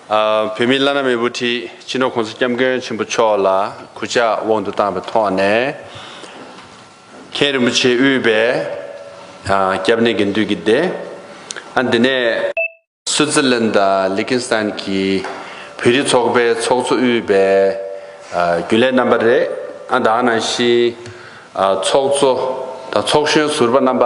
བོད་མི་བླ་ན་མེད་བུ་ཁྲིད་སྤྱི་ནོར་གོང་ས་སྐྱབས་མགོན་ཆེན་པོ་མཆོག་ལ་གུས་ཕྱག་དབང་དུ་བཏང་བའི་ཐོག་ནས། མཁན་རིན་པོ་ཆེ་དབུས་པའི་སྐྱབས་གནས་དགེ་འདུན་གྱི་སྡེ། དེ་ནས། སུའུ་ཙི་ལན་དང་ལི་ཁིན་སི་ཐན་གྱི་བོད་རིགས་ཚོགས་པའི་ཚོགས་གཙོ་དབུས་པའི་རྒྱུན་ལས་རྣམ་པ་རེ། དང་ནང་བཞིན་ཚོགས་གཙོ་དང་ཚོགས་གཞོན་ཟུར་པ་རྣམ་པ།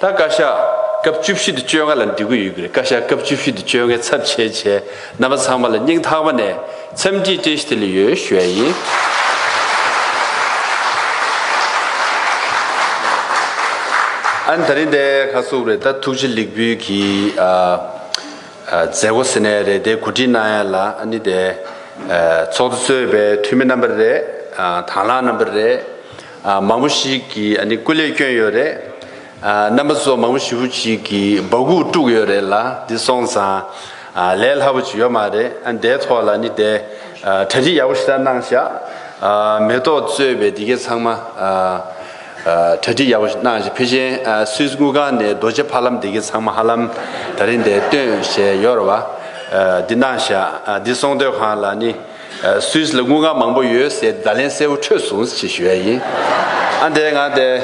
ད་བཀའ་ཤག་སྐབས་བཅུ་བཞི་དུ་བཅོས་སྔ་ལ་འགྲིག་གི་ཡོད་གི་རེད་བཀའ་ཤག་སྐབས་བཅུ་བཞི་དུ་བཅོས་སྔའི་ཚབ་བྱས་བྱས་རྣམ་པ་ཚང་མ་ལ་སྙིང་ཐག་པ་ནས་འཚམས་འདྲི་བཀྲིས་བདེ་ལེགས་ཡོད་ཞུ་ཡ་ཡིན། ཨན་ད་རིང་དེ་ག་བསུབ་རེད་ད་ཐུགས་རྗེ་ལེགས་འབུལ་གྱི་མཛད་སྒོ་ཟེར་ནས་རེད་དེ་གོ་སྒྲིག་གནང་ཡ་ལ་ཨ་ནི་དེ་ཚོགས་འདུ་གཙོས་པའི་འཐུས་མི་རྣམ་པ་རེད་དང་བླངས་རྣམ་པ་རེད། མང་པོ་ཞིག་གིས་སྐུ་ལས་བསྐྱོན་ཡོད་རེད། རྣམ་པ་ཚོ་མང་པོ་ཞིག་པོ་ཞིག་གིས་འབག་སྒུག་དཀྲུགས་ཡོད་རེད་ལ་འདི་སོང་ཙང་ལས་སླ་པོ་ཅིག་ཡོད་མ་རེད་འདའི་ཐོག་ལ་ནི་འདའི་གྲ་སྒྲིག་ཡག་པོ་ཞིག་ལྟར་གནང་བཞག་མེ་ཏོག་གཙོས་པའི་འདི་གའི་ཚང་མ་གྲ་སྒྲིག་ཡག་པོ་ཞིག་གནང་བཞག་ཕེ་ཆེན་སུད་སི་དངུལ་ཁང་ནས་རྡོ་རྗེ་ཕ་ལམ་འདི་གའི་ཚང་མ་ཧ་ལམ་ད་རིང་འདའི་སྟོན་བཞེས་ཡོད་ར་བ་འདི་གནང་བཞག་འདི་སོང་སྡོད་ཁང་ལ་ནི། སུད་སི་ལ་དངུལ་ཁང་མང་པོ་ཡོད་ཟེར་བརྡ་ལན་གསལ་བོ་འཕྲོད་སོང་ཟེར་ཞུ་ཡ་ཡིན། ཨ་འདས་ང་འདས།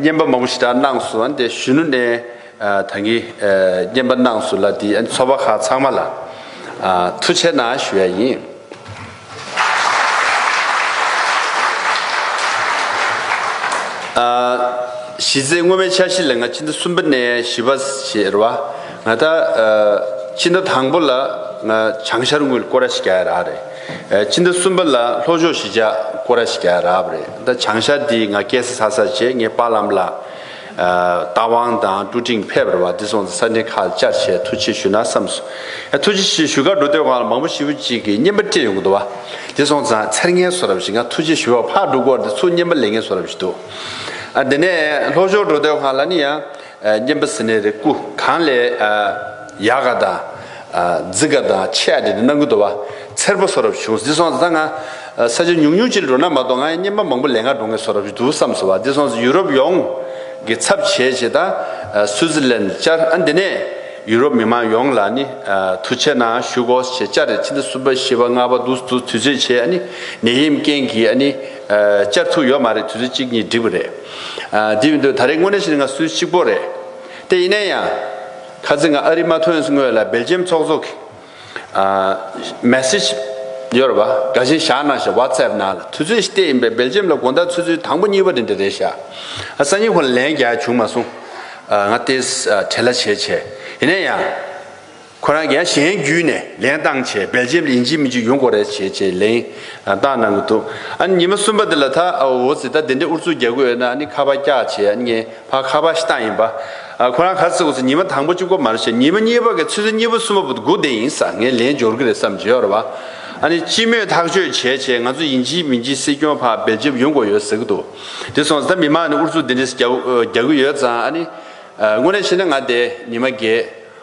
བརྙན་པ་མང་པོ་ཞིག་དྲག་གནང་སོང་ཨ་འདས་གཞོན་ནུ་ནས་ད་གིན་བརྙན་པ་གནང་སོང་ལ་དེ་ཚོ་པ་ཁག་ཚང་མ་ལ་ཐུགས་ཆེ་ན་ཞུ་ཡ་ཡིན། གཞི་རྩའི་སྔོན་མའི་འཆར་གཞི་ལ་ང་ཕྱི་ཟླ་གསུམ་པ་ནས་བཞི་པ་ཞེས་རེད་བ། ང་ད་ཕྱི་ཟླ་དང་པོ་ལ་བྱང་ཤར་དངུལ་ཀོ་ར་ཤི་ག་ཡ་རག་རེད། ཕྱི་ཟླ་གསུམ་པ་ལ་ལྷོ་ཕྱོགས་ཤི་ཇག་ཀོ་ར་ཤི་ག་ཡ་རག་བ་རེད། ད་བྱང་ཤར་འདི་ང་སྐད་ས་ས་བྱས་ངས་པ་ལམ་ལ། རྟ་དབང་དང་ཀྲུ་ཀྲིང་ཕེབས་ར་བ་འདི་སོང་ཚེ་ས་འདྲེན་ཁ་བཅར་བྱས་ཐུགས་ཆེ་ཞུ་ན་བསམ་སོ། ཡ་ཐུགས་ཆེ་ཞེས་ཞུ་ཁར་འགྲོ་སྡོད་གང་ལ་མང་པོ་ཞི་བུ་གཅིག་གི་བརྙན་པ་སྤྲད་ཡོང་གི་འདུག་བ། འདི་སོང་ཚང་ཚེར་ངན་བཟོ་རབས་ཞིག་ང་ཐུགས་ཆེ་ཞུ་བ་ཕར་འགྲོ་སྐོར་འདི་ཚུར་བརྙན་པ་ལེན་ངན་བཟོ་རབས་ཞིག་འདུག། ཨ་དེ་ནས་ལྷོ་ཕྱོགས་འགྲོ་སྡོད་གང་ལ་ནི་ཡ། བསྙེན་པ་ཟིན་ནས་རེ་སྐུ་གང་ལས། ཡལ་ག་དང། རྫི་ག་དང་ཆས་ཀ་དེ་རྣམས་ཀུན་དུ་བ། མཚེར་པོ་སོགས་རབ་བྱུང་བཟི་སོང་ཟ་ང། ས་ཆ་ཉུང་ཉུང་ཅིག་ལ་འགྲོ་ན་མ་གཏོགས་ང་ཡི་བསྙེན་པ་མང་པོ་ལས་ང་འགྲོ་ངེས་སོགས་རབ་བྱུང་དུ་བསམས་སོ་བ་བཟི་སོང་ཟི་ཡུ་རོབ་ཡོངས། ཀྱི་ཚབ་བྱས་བྱས་ད། སུའུ་ཛི་ལན་བཅར་ཨ་འདི་ནས། ཡུ་རོབ་མི་མང་ཡོངས་ལ་ནི། ཐུགས་ཆེ་ན་ཞུ་གོ་ཞེས་བཅར་རེ་ཕྱིན་ད་གསུམ་པ་བཞི་བ་ལྔ་བ་དུ་དུས་ཚོད་བྱས་ཨ་ནི། ནད་ཡེམས་རྐྱེན་གྱིས་ཨ་ནི། བཅར་ཐུགས་ཡོད་མ་རེད་དུས་ཚོད་གཅིག་གཉིས་འགྲིག་པ་རེད། དེ་བས་འདུག་ད་རེས་དངོས་གནས་ཞིག་ང་སུས་གཅིག་པོ་རེད་དེ་ཡིན་ན་ཡང། ཁ་ཚིག་ང་ཨ་རི་མ་ཐོན་སྔོན་ལ་སྦེལ་ཇེམ་ཚོགས་གཙོ་གི། Message། ཡོད་རེད་བ་དགའ་བཞིན་བཞག་གནང་ཞེས་བྷ་ཚེབ་ནང་ལ་ཐུག་ཚོད་ཞིག་བལྟས་ཡིན་པས་སྦེལ་ཇེམ་ལ་དགོངས་དག་ཚོད་ཚོད་དང་པོ་གཉིས་པ་རེད་འདི་རེད་བཞག་ང་སང་ཉིན་ཁོ་ལ་ལན་རྒྱག་བྱུང་མ་སོང། ང་ལྟས་དྲན་ལ་བྱས་བྱས་ཡིན་ན་ཡང། ཁོ་རང་གཞན་གཞན་བརྒྱུད་ནས་ལེན་བཏང་བྱས་སྦེལ་ཇེམ་ལིན་ཇི་མི་ཇི་ཡོན་གོ་རེ་བྱས་བྱས་ལེན་བཏང་གནང་གི་འདུག་ཨ་ནི་ཉི་མ་གསུམ་པ་དེ་ལ་ད་འོ་ཟི་ད་དེ་འདྲའི་ཨུར་ཚུགས་རྒྱག་གི་ཡོད་ན་ཨ་ནི་ཁ་བ་བཀྱག་བྱས་ཨ་ནི་ངའི་ཕ་ཁ་བ་ཤི་སྟངས་ཡིན་པ་ཁོ་རང་ག་ཚོད་གོ་ཟེར་ཉི་མ་དང་པོ་བཅུ་གོ་མ་རེ་བྱས་ཉི་མ་གཉིས་པ་གི་ཚོད་ཚོད་གཉིས་པ་གསུམ་པ་བུ་དགུ་དེ་ཡིན་ས་ངས་ལེན་འབྱོར་གི་རེད་བསམ་བྱས་བར་བ་ཨ་ནི་སྤྱི་མོས་ཐག་གཅོད་བྱས་བྱས་ང་ཚོ་ཡིན་ཇི་མི་ཇི་སྲིད་སྐྱོང་ཕ་སྦེལ་ཇེམ་ཡོན་གོ་ཡོད་ཟེར་གི་འདུག་དེ་སོང་ཟི་ད་མི་མང་ནས་ཨུར་ཚུགས་དེ་འདྲའི་རྒྱག་གི་ཡོད་ཙང་ཨ་ནི་དངོས་གནས་བཤད་ན་ང་དེ་ཉི་མ་རྒྱལ་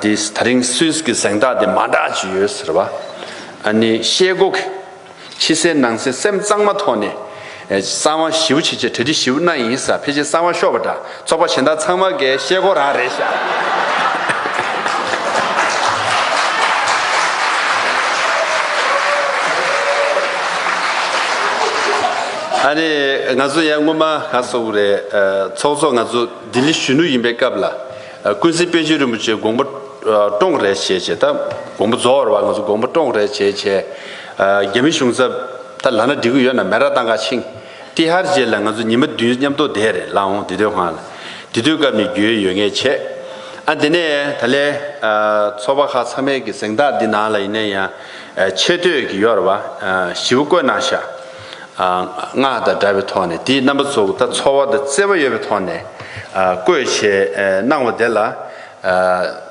འདིས་ད་རིང་སུས་ཀྱི་གཟེངས་རྟགས་དེ་མ་འདྲ་ཅི་ཡོད་ཟེར་བ། ཨ་ནི་ཤེལ་སྒོ་གི། ཕྱི་གསལ་ནང་གསལ་སེམས་གཙང་མ་ཐོག་ནས། གསང་བ་ཞིའུ་བྱེད་བྱེད་གྲ་སྒྲིག་ཞིའུ་གནང་ཡིན་ས་ཕལ་ཆེར་གསང་བ་ཤོར་བ་འདྲ་ཚོགས་པ་གཞན་དག་ཚང་མ་འགའི་ཤེལ་སྒོ་རང་རེད་ཤག། ཨ་ནི་ང་ཚོ་ཡང་སྔོན་མ་ག་སོགས་རེད། ཚོགས་གཙོ་ང་ཚོ་ལྡི་ལི་གཞོན་ནུ་ཡིན་པའི་སྐབས་ལ། ཀུན་གཟིགས་དཔལ་ཆེན་རིན་པོ་ཆེ་དགོངས་པ་བཀྲོངས་རེ་བྱས་བྱས་ད་དགོངས་པ་རྫོགས་བར་ང་ཚོ་དགོངས་པ་བཀྲོངས་རེ་བྱས་བྱས། རྒྱ་མི་གཞུང་ཚབ་ད་ལ་ན་འགྲིག་གི་ཡོད་ན་མེ་ར་ཏང་ཁ་ཆིངས་ཏི་ཧར་རྗེས་ལ་ང་ཚོ་ཉི་མ་བདུན་མཉམ་གཏོ་བསྡད་རེ་ལ་འོང་དེ་དོད་ཁང་ལ་དེ་དུས་སྐབས་ནས་རྒྱུའི་ཡོད་ངེས་བྱས། ཨ་དེ་ནས་ད་ལའི་ཚོགས་པ་ཁག་ཚང་མའི་གི་གཟེངས་རྟགས་འདི་ནང་ལ་ཡིན་ན་ཡང་ཆེ་བསྟོད་གི་ཡོད་ར་བ་ཞིའུ་བཀོད་གནང་ཤག། སྔགས་དང་སྒྲ་བའི་ཐོག་ནས་དེའི་རྣམ་པ་གཙོ་བོ་དང་ཚོར་བ་དང་བརྩེ་བ་ཡོད་པའི་ཐོག་ནས་བཀོད་ཞེས་སྣང་བ་དེ་ལ།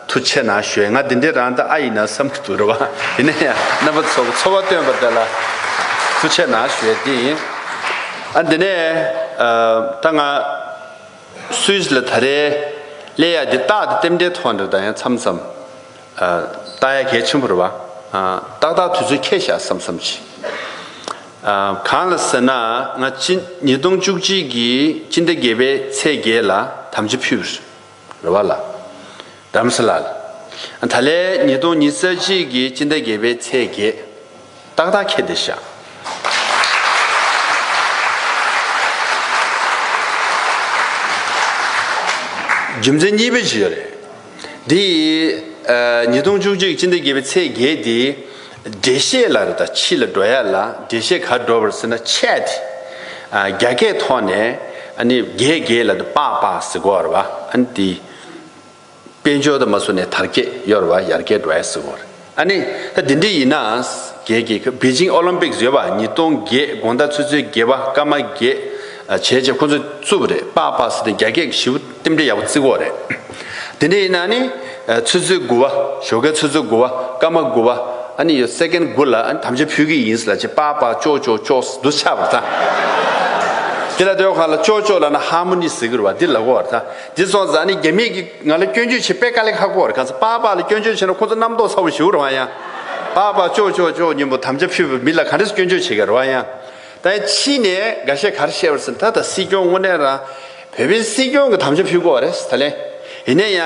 མཐུ་ཆེ་ན་ཞོའི་ང་འདི་འདྲས་རང་དང་ཨ་ཡིན་ན་བསམ་གྱི་འདུག་རེད་བ། དེ་ནས་ཡང་རྣམ་པ་གཙོ་བོ་ཚོར་བ་སྟོན་པ་དེ་ལ་མཐུ་ཆེ་ན་ཞོའི་འདི་ཡིན། ཨ་འདི་ནས་ད་ང་སུས་ལ་ད་རེས་ཀླད་ཡག་འདི་བཏགས་ཏེ་ལྟེམ་འདྲའི་ཐོག་འདྲ་ད་ཡང་མཚམས་མཚམས། རྟགས་ཡ་གལ་ཆེན་པོ་རེད་བ། ཏག་ཏག་དུས་ཚོད་ཁྱད་བཞག་བསམ་བསམ་གྱིས། གང་ལ་ཟེར་ན་ང་སྤྱི་ཉིས་སྟོང་བཅུ་གཅིག་གི་སྤྱི་ཟླ་བརྒྱད་པའི་ཚེས་བརྒྱད་ལ་དམ་བཅའ་ཕུལ་བ་རེད་བ་ལ། རམ་ས་ལ། ད་ལས་ཉིས་སྟོང་ཉིས་རྩ་གཅིག་གི་སྤྱི་ཟླ་བརྒྱད་པའི་ཚེས་བརྒྱད། ཏག་ཏག་ཁྱེད་འདིར་བཞག། རྒྱུ་མཚན་གཉིས་པའི་ཞིག་ཡོད་རེད། དེ་ཡིས། ཉིས་སྟོང་བཅུ་གཅིག་སྤྱི་ཟླ་བརྒྱད་པའི་ཚེས་བརྒྱད་དེ། འགྲེལ་བཤད་ལ་རེ་དང་ཕྱི་ལ་འགྲོ་ཡ་ལ་འགྲེལ་བཤད་གར་འགྲོ་བར་ཟེར་ན་ཆད་དེ། རྒྱ་སྐད་ཐོག་ནས། ཨ་ནི་རྒྱས་རྒྱས་ལ་དེ་སྤགས་སྤགས་ཟེར་གོ་བར་བ་ཨ་ནི་དེ། དཔལ་འབྱོར་དུ་མ་བཟུང་ནས་དར་རྒྱས་གཡོར་བ་ཡར་རྒྱས་འགྲོ་ཨེ་སྲིད་འོ། ཨ་ནི། ད་དེ་འདྲ་ཡིན་ན། རྒྱལ་གྱི་པེ་ཅིང་ཨོ་ལིམ་པིག་བཟོས་པ་ཉིས་སྟོང་བརྒྱད་དགོངས་དག་ཚུལ་འཚོལ་དགེ་བ་སྐར་མ་བརྒྱད། བྱས་རྗེས་ཁོ་ཚོས་བཙུགས་པ་རེད་དཔག་དཔག་སེ་དེ་རྒྱ་སྐད་ཞིབ་རྟེན་འབྲེལ་ཡག་པོ་བརྩི་འོག་རེད། དེ་འདྲ་ཡིན་ན་ཨ་ནི། ཚུལ་འཚོལ་དགུ་བ་ཞོ་ཀའི་ཚུལ་འཚོལ་དགུ་བ་སྐར་མ་དགུ་བ་ཨ་ནི་ཡོད་སེཀེན་དགུ་ལ་ཨ་ནི་དམ་བཅའ་ཕུལ་གི་ཡིན་ལ་ཅེས་དཔག་དཔག་ཅོག་ཅོག་ཅོག་སི་དུ་ཆགས་པར་ཐལ། དེ་ལ་ཟློས་གར་ལ་ཅོག་ཅོག་ལ་ན་ཧར་མོ་ནི་ཟེར་གི་རུ་བ་འདི་ལ་གོ་བར་ཐལ། འདི་ཚོ་ཛྭ་ནི་རྒྱ་མིས་ཀྱིས་ང་ལ་སྐྱོན་བརྗོད་བྱེད་དཔེ་དཀའ་ལས་ཁག་པོར་ག་ཚོད་པགས་པགས་ལ་སྐྱོན་བརྗོད་བྱས་ན་ཁོ་ཚོ་རྣམ་རྟོག་ཚ་བོ་ཞུ་རོགས་གཡང། པགས་པགས་ཅོག་ཅོག་ཅོག་སྙིང་པོ་དམ་བཅའ་ཕུལ་བའི་མི་ལ་ག་རེས་སྐྱོན་བརྗོད་བྱེད་ག་རོགས་གཡང། ད་ཡང་ཕྱིས་ནས་འགའ་ཤས་གར་བཤད་པར་སེམས་ད་ད་སྲིད་སྐྱོང་དངོས་གནས་རང་བོད་པའི་སྲིད་སྐྱོང་གི་དམ་བཅའ་ཕུལ་དགོས་བ་རེད་ད་ལན་ཡིན་ན་ཡང།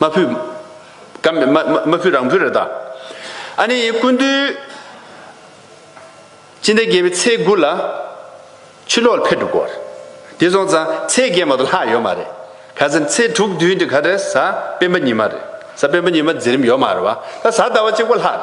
མ་བུ། ག་མེད་མ་བུ་རང་བུ་རེད་ད། ཨ་ནི་ཡིན་ཀུན་འདུས། ཅི་འདི་རྒྱལ་བའི་ཚེས་དགུ་ལ། ཆུ་ལོག་ལ་ཕེབས་འགྲོ་དགོས། དེ་སོང་ཙང་ཚེས་བརྒྱད་མ་ཏོ་ལྷག་ཡོད་མ་རེད། ག་ཟེར་ཚེས་དྲུག་བདུན་དེ་ག་རེད་གཟའ་སྤེན་པ་ཉི་མ་རེད། གཟའ་སྤེན་པ་ཉི་མ་འཛིན་རིམ་ཡོད་མ་རེད་བ། ད་གཟའ་ཟླ་བ་གཅིག་པོ་ལྷག་རེད།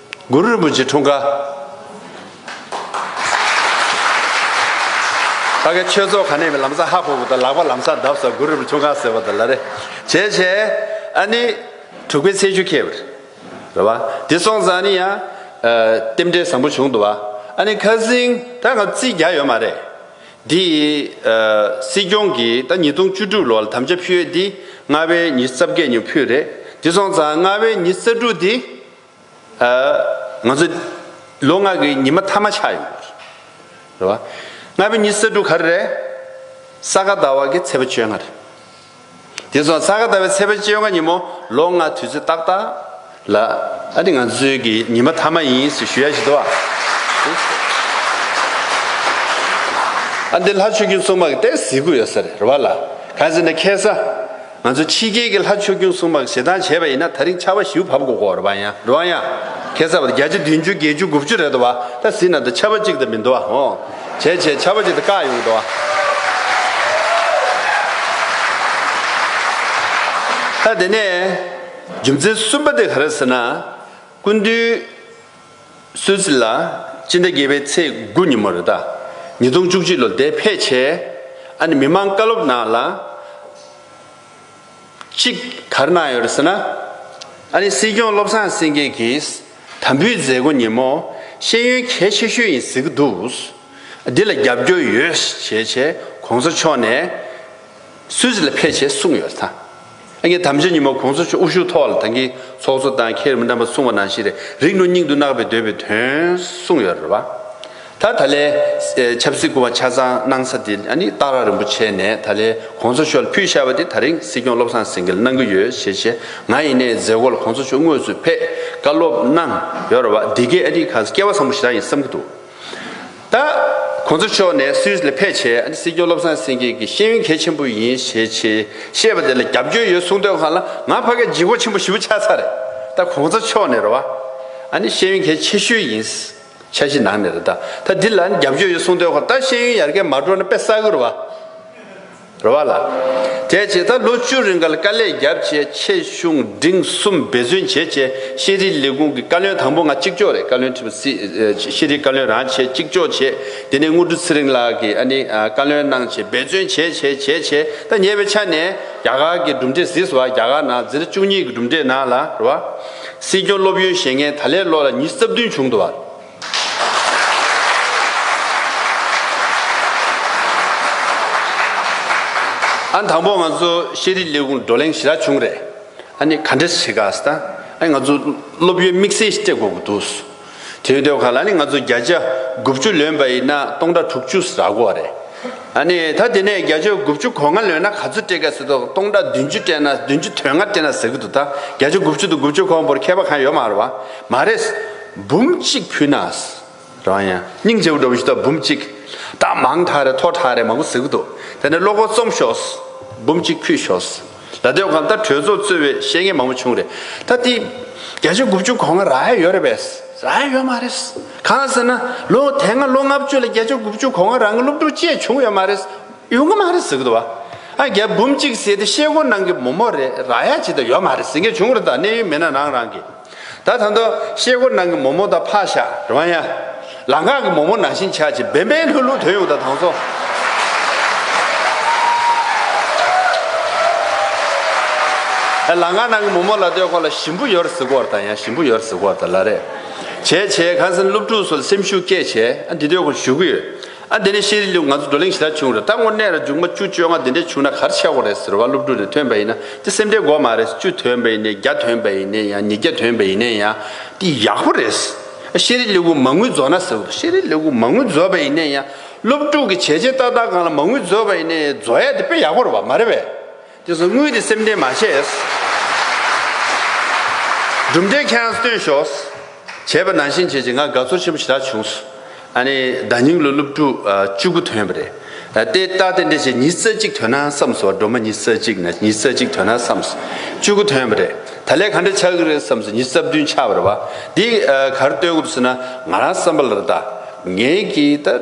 གུ་རུ་རིན་པོ་ཆེ་འཁྲུངས་སྐར། ད་གེ་ཆོས་ཚོགས་ཁ་ནས་མི་ལམ་ས་ཧ་ཕོ་བོ་དང་ལག་པ་ལམ་ས་བརྡབ་ས་གུ་རུ་རིན་པོ་འཁྲུངས་སྐར་ཟེར་བ་དང་ལ་རེ་བྱས་བྱས། ཨ་ནི་དྲུག་པའི་ཚེས་བཅུ་ཁེལ་བར། རེད་བ། དེ་སོང་ཙང་ནི་ཡང། རྟེན་འབྲེལ་བཟང་པོ་བྱུང་འདུག་བ། ཨ་ནི་ཁ་ཟིང་ད་གམ་རྩིས་རྒྱག་ཡོད་མ་རེད། འདི། སྲིད་སྐྱོང་གིས་ད་ཉིས་སྟོང་བཅུ་དྲུག་ལོར་དམ་བཅའ་ཕུལ་ཡོད་འདི་ལྔ་བའི་ཉིས་རྩ་བརྒྱད་ཉིན་ཕུལ་རེད། དེ་སོང་ཙང་ལྔ་བའི་ཉིས་རྩ་དྲུག་འདི། ང་ཚོ་ལོ་ལྔ་གི་ཉི་མ་ཐ་མ་ཆགས་ཡོད། རེད་བ། ལྔ་པའི་ཉིན་ས་དྲུག་གར་རེད། ས་ག་ཟླ་བ་གི་ཚེས་པ་བཅོ་ལྔ་རེད། དེ་སོང་ས་ག་ཟླ་བའི་ཚེས་པ་བཅོ་ལྔ་ཉིན་མོ་ལོ་ལྔ་དུས་ཚོད་ཏག་ཏག་ལ་ཨ་དེ་ང་ཚོའི་གི་ཉི་མ་ཐ་མ་ཡིན་ཟེར་ཞུ་ཡ་ཞིག་འདུག་ཨ་འདི་ལྷ་ཆོས་རྒྱུན་གཙོ་མ་གི་གཏེར་གཟིགས་དགོས་ཡོད་ས་རེད་བ་ལ་གང་ཟེར་ན་ཁེ་ས་ང་ཚོ་ཕྱི་རྒྱལ་གྱི་ལྷ་ཆོས་ཀུན་སྲུང་པ་ཞེ་སྡང་བྱས་པ་ཡིན་ན་ད་རིང་ཆར་བ་བཞིའུ་བབ་གོ་གོ་རོ་བ་ཡང་རོ་བ་ཡང། ཁེ་སར་བ་བརྒྱ་བྱི་བདུན་བཅུ་བརྒྱད་བཅུ་དགུ་བཅུ་རེད་དོ་བ་ད་བཟི་ན་དོ་ཆར་བ་གཅིག་ད་མི་འདོ་བ་ཧོ། བྱས་བྱས་ཆར་བ་གཅིག་ད་བཀག་ཡོང་གི་དོ་བ། ད་དེ་ནས་རྒྱུ་མཚན་གསུམ་པ་དེ་ག་རེད་ཟེར་ན། ཀུན་འདུས། སུད་སི་ལ་སྤྱི་ཟླ་བརྒྱད་པའི་ཚེས་དགུ་ཉིན་མོ་རེ་ད་ཉིས་སྟོང་བཅུ་གཅིག་ལོ་འདས་ཕེབས་བྱས། ཨ་ནི་མི་མང་བཀའ་སློབ་ནང་ལ་གཅིག་གར་གནང་ཡོད་རེད་ཟེར་ན། ཨ་ནི་སྲིད་སྐྱོང་བློ་བཟང་སེང་གེ་གིས་དམ་འབུལ་མཛད་སྒོ་ཉིན་མོ་ཤེས་ཡོན་གལ་ཆེ་ཤོས་ཡིན་ཟེར་གྱི་འདུག་འདི་ལ་རྒྱབ་སྐྱོར་ཡོད་བྱས་བྱས་གོང་ས་མཆོག་ནས་སུད་སི་ལ་ཕེབས་བྱས་གསུངས་ཡོད་ད། ཨ་ངའི་དམ་བཅའ་ཉི་མ་གོང་ས་མཆོག་དབུ་བཞུགས་ཐོག་ལ་ད་གིན་ཚོགས་གཙོ་བཏང་ཁྱེར་མི་འདམ་པ་གསུང་བ་ནང་བཞིན་རེ་རིག་ནོ་སྙིང་དུ་བརྣག་པའི་འདོད་པའི་དོན་གསུང་ཡོད་རེད་བ། ད་ད་ལའི་ཆབ་སྲིད་སྐུ་བ་ཆ་ཚང་གནང་ས་དེ་ཨ་ནི་སྟག་ར་རིན་པོ་ཆེ་ནས་ད་ལའི་གོང་ས་མཆོག་ལ་ཕུལ་ཤར་བ་དེ་ད་རིང་སྲིད་སྐྱོང་བློ་བཟང་སེང་གེ་ལ་གནང་གི་ཡོད་ཞེས་བྱས་ང་ཡིན་ནའི་མཛད་སྒོ་ལ་གོང་ས་མཆོག་དངོས་སུ་ཕེབས་བཀའ་སློབ་གནང་ཡོད་རེད་བ་འདི་གས་ཨ་ནི་ག་ས་སྐྱེ་བ་བཟང་པོ་ཞིག་རང་ཡིན་བསམ་གི་འདུག། ད། ཁོང་ཚོ་ཕྱོགས་ནས་སུད་ལ་ཕེབས་ཆེད་ཨ་ཏི་སི་ཀྱོ་བློ་བཟང་སེང་གེ་གི་ཤེས་ཡོན་གལ་ཆེན་པོ་ཡིན་ཞེས་ཆེས་བཤད་པ་དེ་ལ་རྒྱབ་སྐྱོར་ཡོད་གསུངས་དོན་གང་ལ་ང་ཕ་གི་སྦྱིན་བོ་ཆེན་པོ་ཞིབ་ཆགས་ས་རེད་ད་ཁོང་ཚོ་ཕྱོགས་ནས་ར་བ་ཨ་ནི་ཤེས་ཡོན་གལ་ཆེ་ཤོས་ཡིན་ཕྱ་གཞི་ནང་ནས་ར་ད་ད་དེ་ལ་རྒྱབ་སྐྱོར་ཡོད་གསུངས་དོན་གང་ད་ཤེས་ཡོན་ཡར་རྒལ་མ་འགྲོ་ན་དཔེ་བསགས་གི་ར་བ། རོ་བ་ལ། དེའི་རྗེས་ད་ལོ་བཅུ་རིང་གར་དཀའ་ལས་བརྒྱབ་རྗེས་ཆེད་གཞུང་འབྲིང་གསུམ་འབད་བརྩོན་བྱས་རྗེས་ཤེས་རིག་ལས་ཁུངས་ཀྱི་བཀའ་བློན་དང་པོ་ང་གཅིག་ལྕོགས་རེད་བཀའ་བློན་ཁྲི་པ་སྲིད་ཤེས་རིག་བཀའ་བློན་རང་བྱས་གཅིག་ལྕོགས་བྱས་དེ་ནས་དངོས་གྲུབ་ཚེ་རིང་ལགས་ཀྱིས་ཨ་ནི་བཀའ་བློན་གནང་ཆེད་འབད་བརྩོན་བྱས་བྱས་བྱས་བྱས་ད་ཉེ་བའི་ཆ་ནས་རྒྱ་གར་གྱི་གྲུབ་འབྲས་ཟིག་སོ་བ་རྒྱ་གར་ནང་ཛིར་བཅུ་གཉིས་ཀྱི་གྲུབ་འབྲས་ནང་ལ་རོ་བ། སྲིད་སྐྱོང་སློབ་ཡོན་བཞེས་མཁན་ད་ལས་ལོ་ལ་ཉིས་རྩ་བདུན་བྱུང་འདུག་བ། ཨ་དང་པོ་ང་ཚོ་ཤེས་རིག་ལས་ཁུངས་བགྲོ་གླེང་ཞི་རགས་བྱུང་རེད། ཨ་ནི་ག་འདྲི་བྱེད་གཱས་ད་ཨ་ང་ཚོ་སློབ་ཡོན་དམིགས་བསལ་སྤྲད་དགོས་གི་འདུག་ཟེར། དེ་ཡོད་དོ་ག་ལ་ནི་ང་ཚོ་བརྒྱ་ཆ་དགུ་བཅུ་ལོན་པ་ཡིན་ན་སྟོང་ཕྲག་དྲུག་ཅུ་ཟ་དགོས་རེད། ཨ་ནི་ད་དེ་ནས་བརྒྱ་ཆ་དགུ་བཅུ་གོ་ལྔ་ལོན་ན་ག་ཚོད་སྤྲད་གཱས་ཟེར་དོ་སྟོང་ཕྲག་བདུན་ཅུ་སྤྲད་ན་བདུན་ཅུ་དོན་ལྔ་སྤྲད་ན་ཟེར་གི་འདུག་ད་བརྒྱ་ཆ་དགུ་བཅུ་དང་དགུ་བཅུ་གོ་བོར་མཁས་པ་གང་ཡོད་མ་རེད་བ། མ་རེད། འབུམ་གཅིག་ཕུལ་ན། རང་ཡང་སྙིང་རྗེ་བོ་འགྲོ་བའི་ཞུ་དག་འབུམ་གཅིག། རྟགས་མང་དག་རེ་ཐོག་ཁྲ་རེ་མང་པོ་གཟིགས་གོ་འདུག་དེ་ནས་བློ་སྒོ་རྩོམ་ཤོགས། འབུམ་གཅིག་ཕུལ་ཤོགས། ད་དོན་གམ་ད་གྲོས་ཚོགས་གཙོས་བའི་བཤད་ངན་མང་པོ་བྱུང་རེད་ད། བརྒྱ་ཆ་དགུ་བཅུ་གོ་ལྔ་རག་ཡ་ཡོད་རེད་པས། རག་ཡ་ཡོད་མ་རེད། གང་ཟེར་ན། ལོ་དེ་སྔ་ལོ་ལྔ་བཅུ་ལ་བརྒྱ་ཆ་དགུ་བཅུ་གོ་ལྔ་རག་ང་སློབ་ཕྲུག་བཅས་བྱུང་ཡོད་མ་རེད། ཡོད་གི་མ་རེད་གཟིགས་གི་འདུག་བ། ཨ་རྒྱ་འབུམ་གཅིག་ཟེར་ཏེ་བཤད་སྒོ་གནང་གི་མོ་མོ་རེད་རག་ཡ་ཇི་ལྟར་ཡོད་མ་རེད་གཟིགས་མཁན་བྱུང་རེད་ད་གནས་ཡུལ་མི་སྣ་རང་རང་གི། ད་ད་འདོ། གཤེད་སྒོ་ནང་གི་མོ་མོ་དང་ཕག་ཞག་ར་བ་ཡ། ལ་ངག་གི་མོ་མོ་ནང་བཞིན་ཆགས་ཅིག་འབེན་འབེན་ལྷུག་ལྷུག་དོན་ཡོང་དང་དང་ཚོ། ཨ་ལ་ངག་ནང་གི་མོ་མོ་ལ་ལྟོས་ཁོ་ལ་ཞིམ་པོ་ཡོར་ཟི་གོར་དང་ཡ་ཞིམ་པོ་ཡོར་ཟི་གོར་དང་ལ་རེ། བྱས་བྱས་གངས་སེང་སློབ་ཕྲུག་ཚོ་ལ་སེམས་ཤུགས་སྐྱེད་བྱས་ཨ་འདི་ལྟོས་ཁོ་ཞུ་གི་ཡོད། ཨ་འདི་ནི་ཤེས་རིག་ལུས་ང་ཚོ་བགྲོ་གླེང་ཞེ་དྲག་བྱུང་རེད་ད་དངོས་གནས་ར་འཇུག་མ་བཅུ་བཅོ་ལྔ་འདི་འདྲ་བྱུང་ན་གར་ཆག་གོ་རེད་ཟེར་བ་སློབ་ཕྲུག་ནས་ཐོན་པ་ཡིན་ན་དེ་སེམས་ཁྲལ་འགོ་མ་རེད་བཅུ་ཐོན་པ་ཡིན་ནས་བརྒྱ་ཐོན་པ་ཡིན་ནས་ཡང་ཉིས་བརྒྱ་ཐོན་པ་ཡིན་ནས་ཡང་དེ་ཡག་པོ་རེད། ཤེས་རིག་ལུས་ངུ་མ་ངུ་རྫོགས་ན་ཟེར་བ་ཤེས་རིག་ལུས་ངུ་མ་ངུ་རྫོགས་པ་ཡིན་ནས་ཡང་སློབ་ཕྲུག་གི་བྱས་རྗེས་ཏག་ཏག་གང་ལ་མ་ངུ་རྫོགས་པ་ཡིན་ནས་རྫོགས་ཡ་དེ་དཔེ་ཡག་པོ་རེད་བ་མ་རེད་བས། དེ་བཟུང་དངུལ་དེ་སེམས་ཁྲལ་མ་བྱས། གྲུབ་འབྲས་ཁྱེད་རང་སྟོན་ཞོག། བྱས་པ་ནང་བཞིན་བྱས་ཀྱི་ང་དགའ་ཚོར་ཆེན་པོ་ཞེ་དྲག་བྱུང། ཨཱ་ནི་ཟླ་སྙིང་ལོ་སློབ་ཕྲུག་བཅུ་དགུ་ཐོན་པ་རེད། ལྟས་རྟགས་དེ་འདྲས་བྱས་ཉིས་རྩ་གཅིག་ཐོན་ན་བསམས་སོ་སྒྲོལ་མ་ཉིས་རྩ་གཅིག་ན་ཉིས་རྩ་གཅིག་ཐོན་ན་བསམས་སོ་བཅུ་དགུ་ཐོན་པ་རེད་ད་ལས་ག་འདྲ་ཆགས་ཀྱི་རེད་བསམས་སོ་ཉིས་རྩ་བདུན་ཆགས་པ་རེད་བ་འདི་གར་སྟོན་དགོས་བསུ་ན་ང་རང་བསམ་པ་ལ་ད་ངས་ཀྱི་ད།